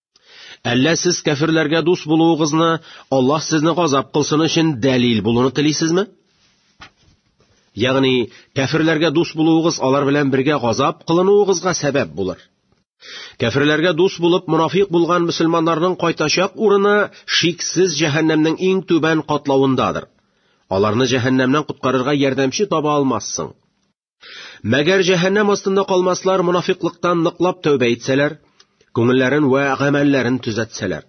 Әллә сез кәфирләргә дус булуыгызны Аллаһ сезне газап кылсын өчен дәлил булуны телисезме? Ягъни, кәфирләргә дус булуыгыз алар белән бергә газап кылынуыгызга сәбәп булыр. Кәфирләргә дус булып мунафик булган мусламаннарның кайтачак урыны шиксез җәһәннәмнең иң түбән катлавындадыр. Аларны җәһәннәмнән коткарырга ярдәмче таба алмассың. Мәгәр җәһәннәм астында калмаслар монафиклыктан ныклап тәүбә итсәләр, күңелләрен вә гамәлләрен төзәтсәләр.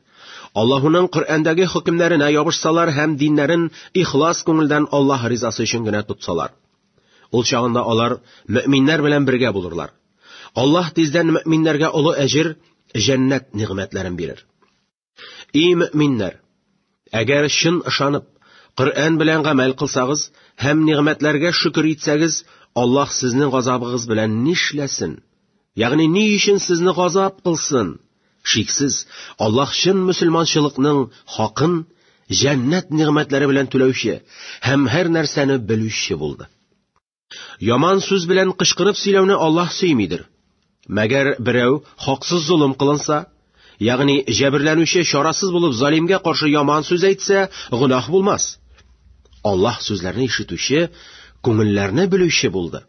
Аллаһуның Коръәндәге хөкемнәренә ябышсалар һәм диннәрен ихлас күңелдән Аллаһ ризасы өчен генә тотсалар. Ул чагында алар мөэминнәр белән бергә булырлар. Аллаһ тиздән мөэминнәргә олы әҗер, җәннәт нигъмәтләрен бирер. Эй мөминнәр! Әгәр чын ышанып, Коръән белән гамәл кылсагыз һәм нигъмәтләргә шөкер итсәгез, Аллаһ сезнең газабыгыз белән нишләсен? Ягъни ни өчен сезне газап кылсын? Шиксез, Аллаһ чын мусульманчылыкның хакын җәннәт нигъмәтләре белән түләүче һәм һәр нәрсәне белүче булды. Яман сүз белән кычкырып сөйләүне Аллаһ сөймидер. Мәгәр берәү хаксыз золым кылынса, ягъни җәберләнүче чарасыз булып залимгә каршы яман сүз әйтсә, гөнаһ булмас. Аллаһ сүзләрне ишетүче, күңелләрне белүче булды.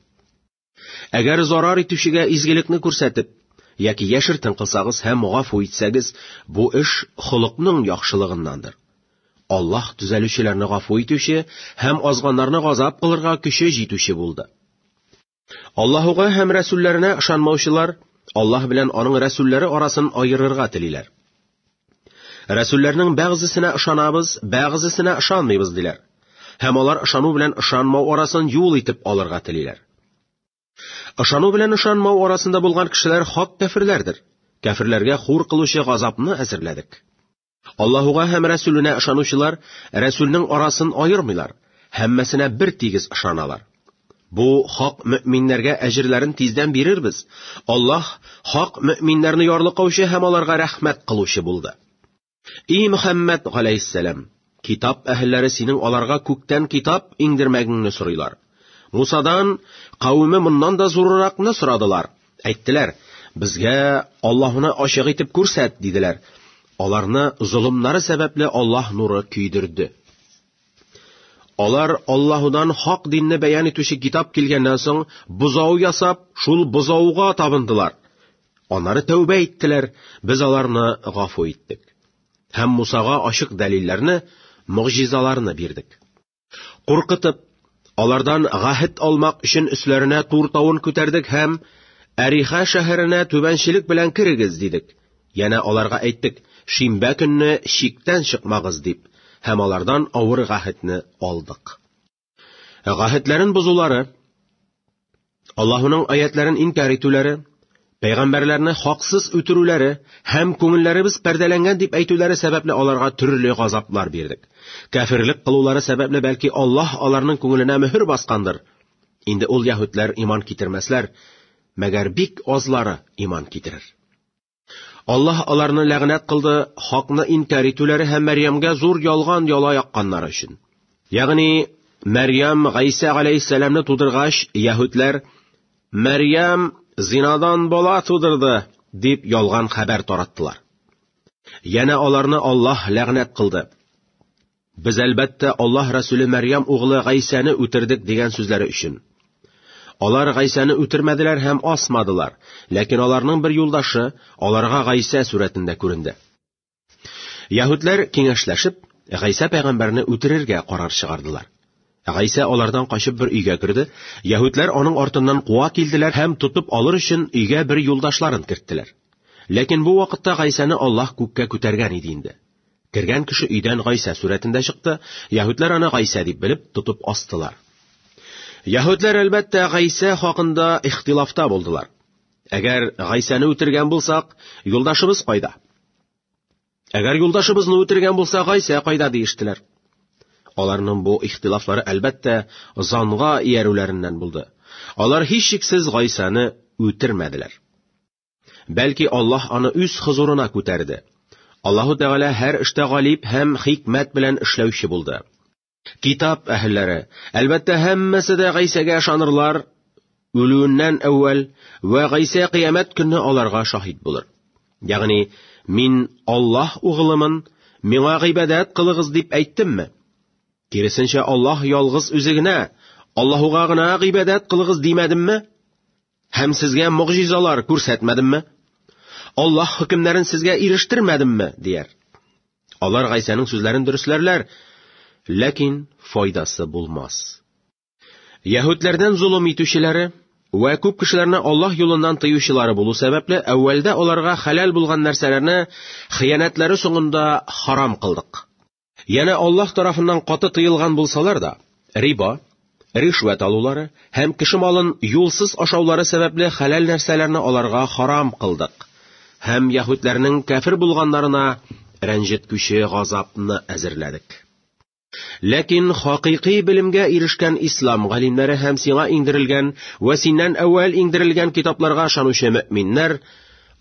Әгәр зарар итүчегә изгелекне күрсәтеп, яки яшертен кылсагыз һәм гафу итсәгез, бу эш холыкның яхшылыгыннандыр. Аллаһ төзәлүчеләрне гафу итүче һәм азганнарны газап кылырга көче җитүче булды. Аллаһуга һәм рәсүлләренә ышанмаучылар Аллаһ белән аның рәсүлләре арасын аерырга телиләр. Рәсүлләрнең бәгъзесенә ышанабыз, бәгъзесенә ышанмыйбыз диләр. Һәм алар ышану белән ышанмау арасын юл итеп алырга телиләр. Ышану белән ышанмау арасында булган кешеләр хак кәферләрдер. Кәферләргә хур кылучы газапны әзерләдек. Аллаһуга һәм Рәсүленә ышанучылар Рәсүлнең арасын аермыйлар, һәммәсенә бер тигез ышаналар. Бу хак мөминнәргә әҗерләрен тиздән бирербез. Аллаһ хак мөминнәрне ярлыкаучы һәм аларга рәхмәт кылучы булды. И Мөхәммәд галәйһиссәлам, китап әһелләре синең аларга күктән китап иңдермәгеңне сорыйлар. Мусадан кавеме моннан да зурыракны сорадылар. Әйттеләр, безгә Аллаһуны ачык итеп күрсәт, диделәр. Аларны золымнары сәбәпле Аллаһ нуры көйдерде. Алар Аллаһудан хак динне бәян итүче китап килгәннән соң, бозау ясап, шул бозауга табындылар. Анары тәүбә иттеләр, без аларны гафу иттек. Һәм Мусага ачык дәлилләрне, мөгъҗизаларны бирдек. Куркытып, алардан гәһет алмак өчен өсләренә тур тавын күтәрдек һәм Әриха шәһәренә түбәнчелек белән керегез дидек. Янә аларга әйттек, шимбә көнне чиктән чыкмагыз дип, һәм алардан авыр гәһетне алдык. Гәһетләрен бозулары Аллаһуның аятларын инкар итүләре, пәйгамбәрләрне хаксыз үтерүләре һәм күңелләребез пәрдәләнгән дип әйтүләре сәбәпле аларга төрле газаплар бирдек. Кәфирлек кылулары сәбәпле бәлки Аллаһ аларның күңеленә мөһер баскандыр. Инде ул яһүдләр иман китермәсләр, мәгәр бик азлары иман китерер. Аллаһ аларны ләгънәт кылды хакны инкәр итүләре һәм Мәрьямгә зур ялган яла якканнары өчен. Ягъни Мәрьям Гайса галәйһиссәламне тудыргач, яһүдләр Мәрьям зинадан бала тудырды дип ялган хәбәр тараттылар. Яна аларны Аллаһ ләгънәт кылды. Без, әлбәттә, Аллаһ Рәсүле Мәрьям углы Гайсәне үтердек дигән сүзләре өчен. Алар Гайсәне үтермәделәр һәм асмадылар, ләкин аларның бер юлдашы аларга Гайсә сурәтендә күренде. Яһүдләр киңәшләшеп, Гайсә пәйгамбәрне үтерергә карар чыгардылар. Гайсә алардан качып бер өйгә керде, яһүдләр аның артыннан куа килделәр һәм тотып алыр өчен өйгә бер юлдашларын керттеләр. Ләкин бу вакытта Гайсәне Аллаһ күккә күтәргән иде инде. Кергән кеше өйдән Гайсә сурәтендә чыкты, яһүдләр аны Гайсә дип белеп, тотып астылар. Яһүдләр, әлбәттә, Гайсә хакында ихтилафта булдылар. Әгәр Гайсәне үтергән булсак, юлдашыбыз кайда? Әгәр юлдашыбызны үтергән булса, Гайсә кайда диештеләр. Аларның бу ихтилафлары, әлбәттә, занга иярүләреннән булды. Алар һичшиксез Гайсәне үтермәделәр. Бәлки Аллаһ аны үз хозурына күтәрде. Аллаһу Тәгалә һәр эштә галип һәм хикмәт белән эшләүче булды. Китап әһелләре, әлбәттә, һәммәсе дә Гайсәгә ышанырлар, үлүеннән әүвәл вә Гайсә кыямәт көнне аларга шаһит булыр. Ягъни, мин Аллаһ угылымын, миңа гыйбадәт кылыгыз дип әйттемме? Киресенчә, Аллаһ ялгыз үзе генә, Аллаһуга гына гыйбадәт кылыгыз димәдемме? Һәм сезгә могҗизалар күрсәтмәдемме? Аллаһ хөкемнәрен сезгә ирештермәдемме? дияр. Алар Гайсәнең сүзләрен дөресләрләр, ләкин файдасы булмас. Яһүдләрдән золым итүчеләре вә күп кешеләрне Аллаһ юлыннан тыючылары булу сәбәпле, әүвәлдә аларга хәләл булган нәрсәләрне хыянәтләре соңында харам кылдык. Янә Аллаһ тарафыннан каты тыелган булсалар да, риба, ришвәт алулары һәм кеше малын юлсыз ашаулары сәбәпле хәләл нәрсәләрне аларга харам кылдык. Һәм яһүдләрнең кәфир булганнарына рәнҗеткүче газапны әзерләдек. Ләкин хакыйкый белемгә ирешкән ислам галимнәре һәм сиңа иңдерелгән вә синнән әүвәл иңдерелгән китапларга ышанучы мөэминнәр,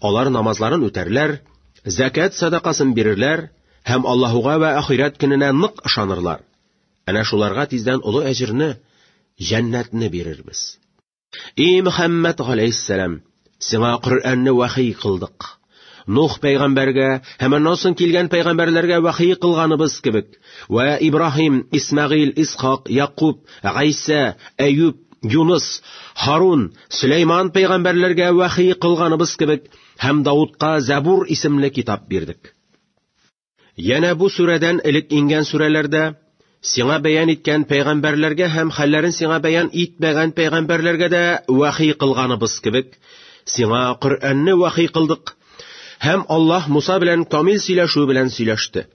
алар намазларын үтәрләр, зәкәт садакасын бирерләр, һәм Аллаһуга вә ахирәт көненә нык ышанырлар. Әнә шуларга тиздән олы әҗерне, җәннәтне бирербез. И Мөхәммәд галәйһиссәлам, сиңа Коръәнне вахи кылдык. Нух пәйгамбәргә һәм аннан соң килгән пәйгамбәрләргә вахи кылганыбыз кебек, вә Ибраһим, Исмәгыйль, Исхак, Якуб, Гайсә, Әюб, Юныс, Харун, Сөләйман пәйгамбәрләргә вахи кылганыбыз кебек, һәм Даудка Забур исемле китап бирдек. Янә бу сүрәдән элек ингән сүрәләрдә сиңа бәян иткән пәйгамбәрләргә һәм хәлләрен сиңа бәян итмәгән пәйгамбәрләргә дә вахи кылганыбыз кебек, сиңа Коръәнне вахи кылдык. Һәм Аллаһ Муса белән камил сөйләшү белән сөйләште.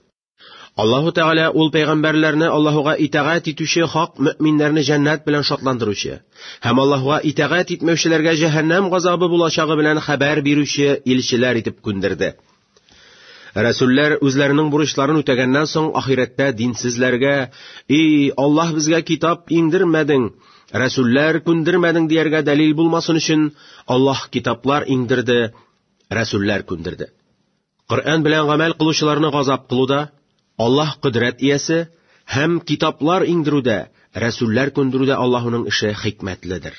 Аллаһу Тәгалә ул пәйгамбәрләрне Аллаһуга итагать итүче хак мөэминнәрне җәннәт белән шатландыручы һәм Аллаһуга итагать итмәүчеләргә җәһәннәм газабы булачагы белән хәбәр бирүче илчеләр итеп күндерде. Рәсүлләр үзләренең бурычларын үтәгәннән соң ахирәттә динсезләргә, «И, Аллаһ безгә китап иңдермәдең, рәсүлләр күндермәдең» дияргә дәлил булмасын өчен, Аллаһ китаплар иңдерде, рәсүлләр күндерде. Коръән белән гамәл кылучыларны газап кылуда, Аллаһ кодрәт иясе һәм китаплар иңдерүдә, рәсүлләр күндерүдә Аллаһуның эше хикмәтледер.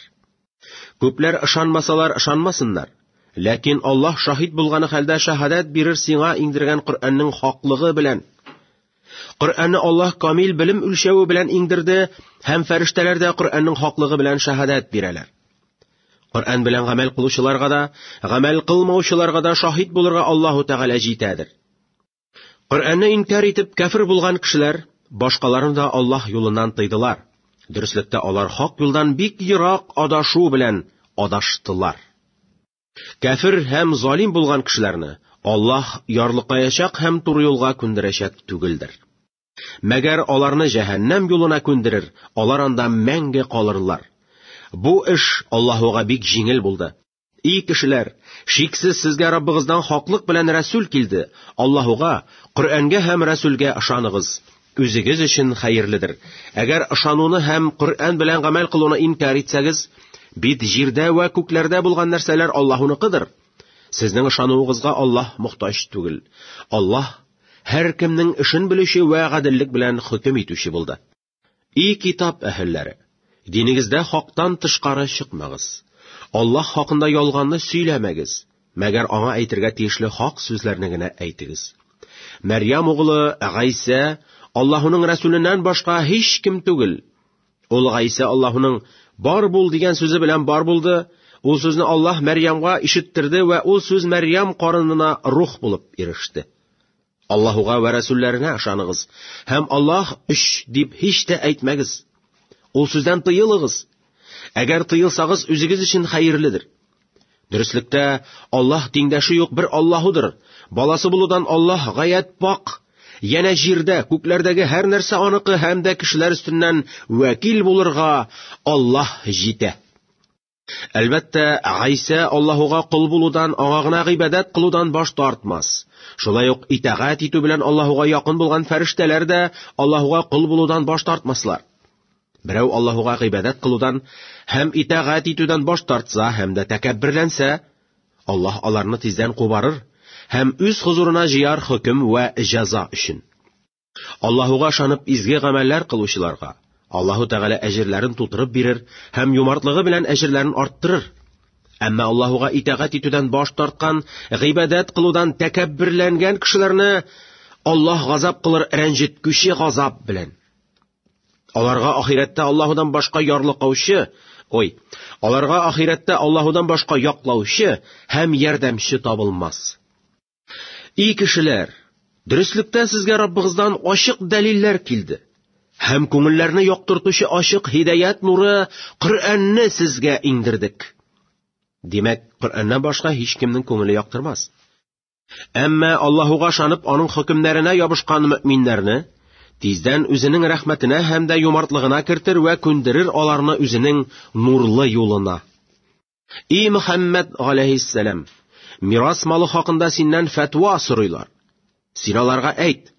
Күпләр ышанмасалар ышанмасыннар. Ләкин Аллаһ шаһит булганы хәлдә шаһадәт бирер сиңа иңдергән Коръәннең хаклыгы белән. Коръәнне Аллаһ камил белем үлчәве белән иңдерде һәм фәрештәләр дә Коръәннең хаклыгы белән шаһадәт бирәләр. Коръән белән гамәл кылучыларга да, гамәл кылмаучыларга да шаһит булырга Аллаһу Тәгалә җитәдер. Коръәнне инкар итеп кәфер булган кешеләр башкаларны да Аллаһ юлыннан тыйдылар. Дөреслектә алар хак юлдан бик ерак адашу белән адаштылар. Кәфер һәм залим булган кешеләрне Аллаһ ярлыкаячак һәм туры юлга күндерәчәк түгелдер. Мәгәр аларны җәһәннәм юлына күндерер, алар анда мәңге калырлар. Бу эш Аллаһуга бик җиңел булды. И кешеләр, шиксез сезгә Раббыгыздан хаклык белән Рәсүл килде. Аллаһуга, Коръәнгә һәм Рәсүлгә ышаныгыз. Үзегез өчен хәерледер. Әгәр ышануны һәм Коръән белән гамәл кылуны инкар итсәгез, бит җирдә вә күкләрдә булган нәрсәләр Аллаһуныкыдыр. Сезнең ышануыгызга Аллаһ мохтаҗ түгел. Аллаһ һәркемнең эшен белүче вә гаделлек белән хөкем итүче булды. И китап әһелләре, динегездә хактан тышкары чыкмагыз. Аллаһ хакында ялганны сөйләмәгез, мәгәр аңа әйтергә тиешле хак сүзләрне генә әйтегез. Мәрьям углы Гайсә Аллаһуның рәсүленнән башка һич кем түгел. Ул Гайсә Аллаһуның бар бул дигән сүзе белән бар булды, ул сүзне Аллаһ Мәрьямга ишеттерде вә ул сүз Мәрьям карынына рух булып иреште. Аллаһуга вә рәсүлләренә ышаныгыз, һәм Аллаһ өч дип һич тә әйтмәгез. Ул сүздән тыелыгыз. Әгәр тыелсагыз, үзегез өчен хәерледер. Дөреслектә, Аллаһ тиңдәше юк бер Аллаһудыр. Баласы булудан Аллаһ гаять пак. Янә җирдә, күкләрдәге һәр нәрсә аныкы һәм дә кешеләр өстеннән вәкил булырга Аллаһ җитә. Әлбәттә, Гайсә Аллаһуга кол булудан, аңа гына гыйбадәт кылудан баш тартмас. Шулай ук итагать итү белән Аллаһуга якын булган фәрештәләр дә Аллаһуга кол булудан баш тартмаслар. Берәү Аллаһуга гыйбадәт кылудан һәм итагать итүдән баш тартса һәм дә тәкәбберләнсә, Аллаһ аларны тиздән кубарыр һәм үз хозурына җыяр хөкем вә җәза өчен. Аллаһуга ышанып изге гамәлләр кылучыларга Аллаһу Тәгалә әҗерләрен тутырып бирер һәм юмартлыгы белән әҗерләрен арттырыр. Әмма Аллаһуга итагать итүдән баш тарткан, гыйбадәт кылудан тәкәбберләнгән кешеләрне Аллаһ газап кылыр рәнҗеткүче газап белән. Аларга ахирәттә Аллаһудан башка ярлыкаучы, ой, аларга ахирәттә Аллаһудан башка яклаучы һәм ярдәмче табылмас. И кешеләр, дөреслектән сезгә Раббыгыздан ачык дәлилләр килде. Һәм күңелләрне яктыртучы ачык һидаят нуры Коръәнне сезгә иңдердек. Димәк, Коръәннән башка һич кемнең күңеле яктырмас. Әмма Аллаһуга шанып, аның хөкемнәренә ябышкан мөминнәрне тиздән үзенең рәхмәтенә һәм дә юмартлыгына кертер вә күндерер аларны үзенең нурлы юлына. И Мөхәммәд галәйһиссәлам, мирас малы хакында синнән фәтва сорыйлар. Син аларга әйт,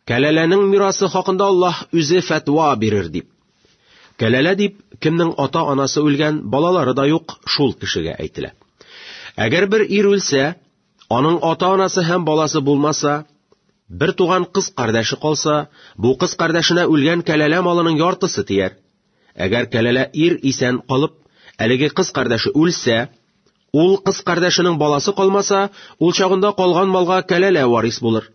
кәләләнең мирасы хакында Аллаһ үзе фәтва бирер дип. Кәләлә дип, кемнең ата-анасы үлгән, балалары да юк, шул кешегә әйтелә. Әгәр бер ир үлсә, аның ата-анасы һәм баласы булмаса, бер туган кыз кардәше калса, бу кыз кардәшенә үлгән кәләлә малының яртысы тияр. Әгәр кәләлә ир исән калып, әлеге кыз кардәше үлсә, ул кыз кардәшенең баласы калмаса, ул чагында калган малга кәләлә варис булыр.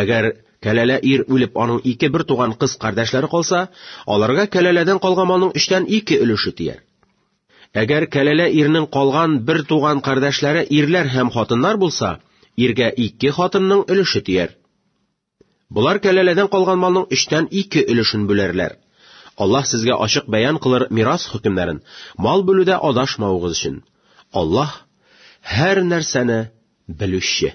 Әгәр кәләлә ир үлеп, аның ике бер туган кыз кардәшләре калса, аларга кәләләдән калган малның өчтән ике өлеше тияр. Әгәр кәләлә ирнең калган бер туган кардәшләре ирләр һәм хатыннар булса, иргә ике хатынның өлеше тияр. Болар кәләләдән калган малның өчтән ике өлешен бүләрләр. Аллаһ сезгә ачык бәян кылыр мирас хөкемнәрен, мал бүлүдә адашмавыгыз өчен. Аллаһ, һәр нәрсәне белүче.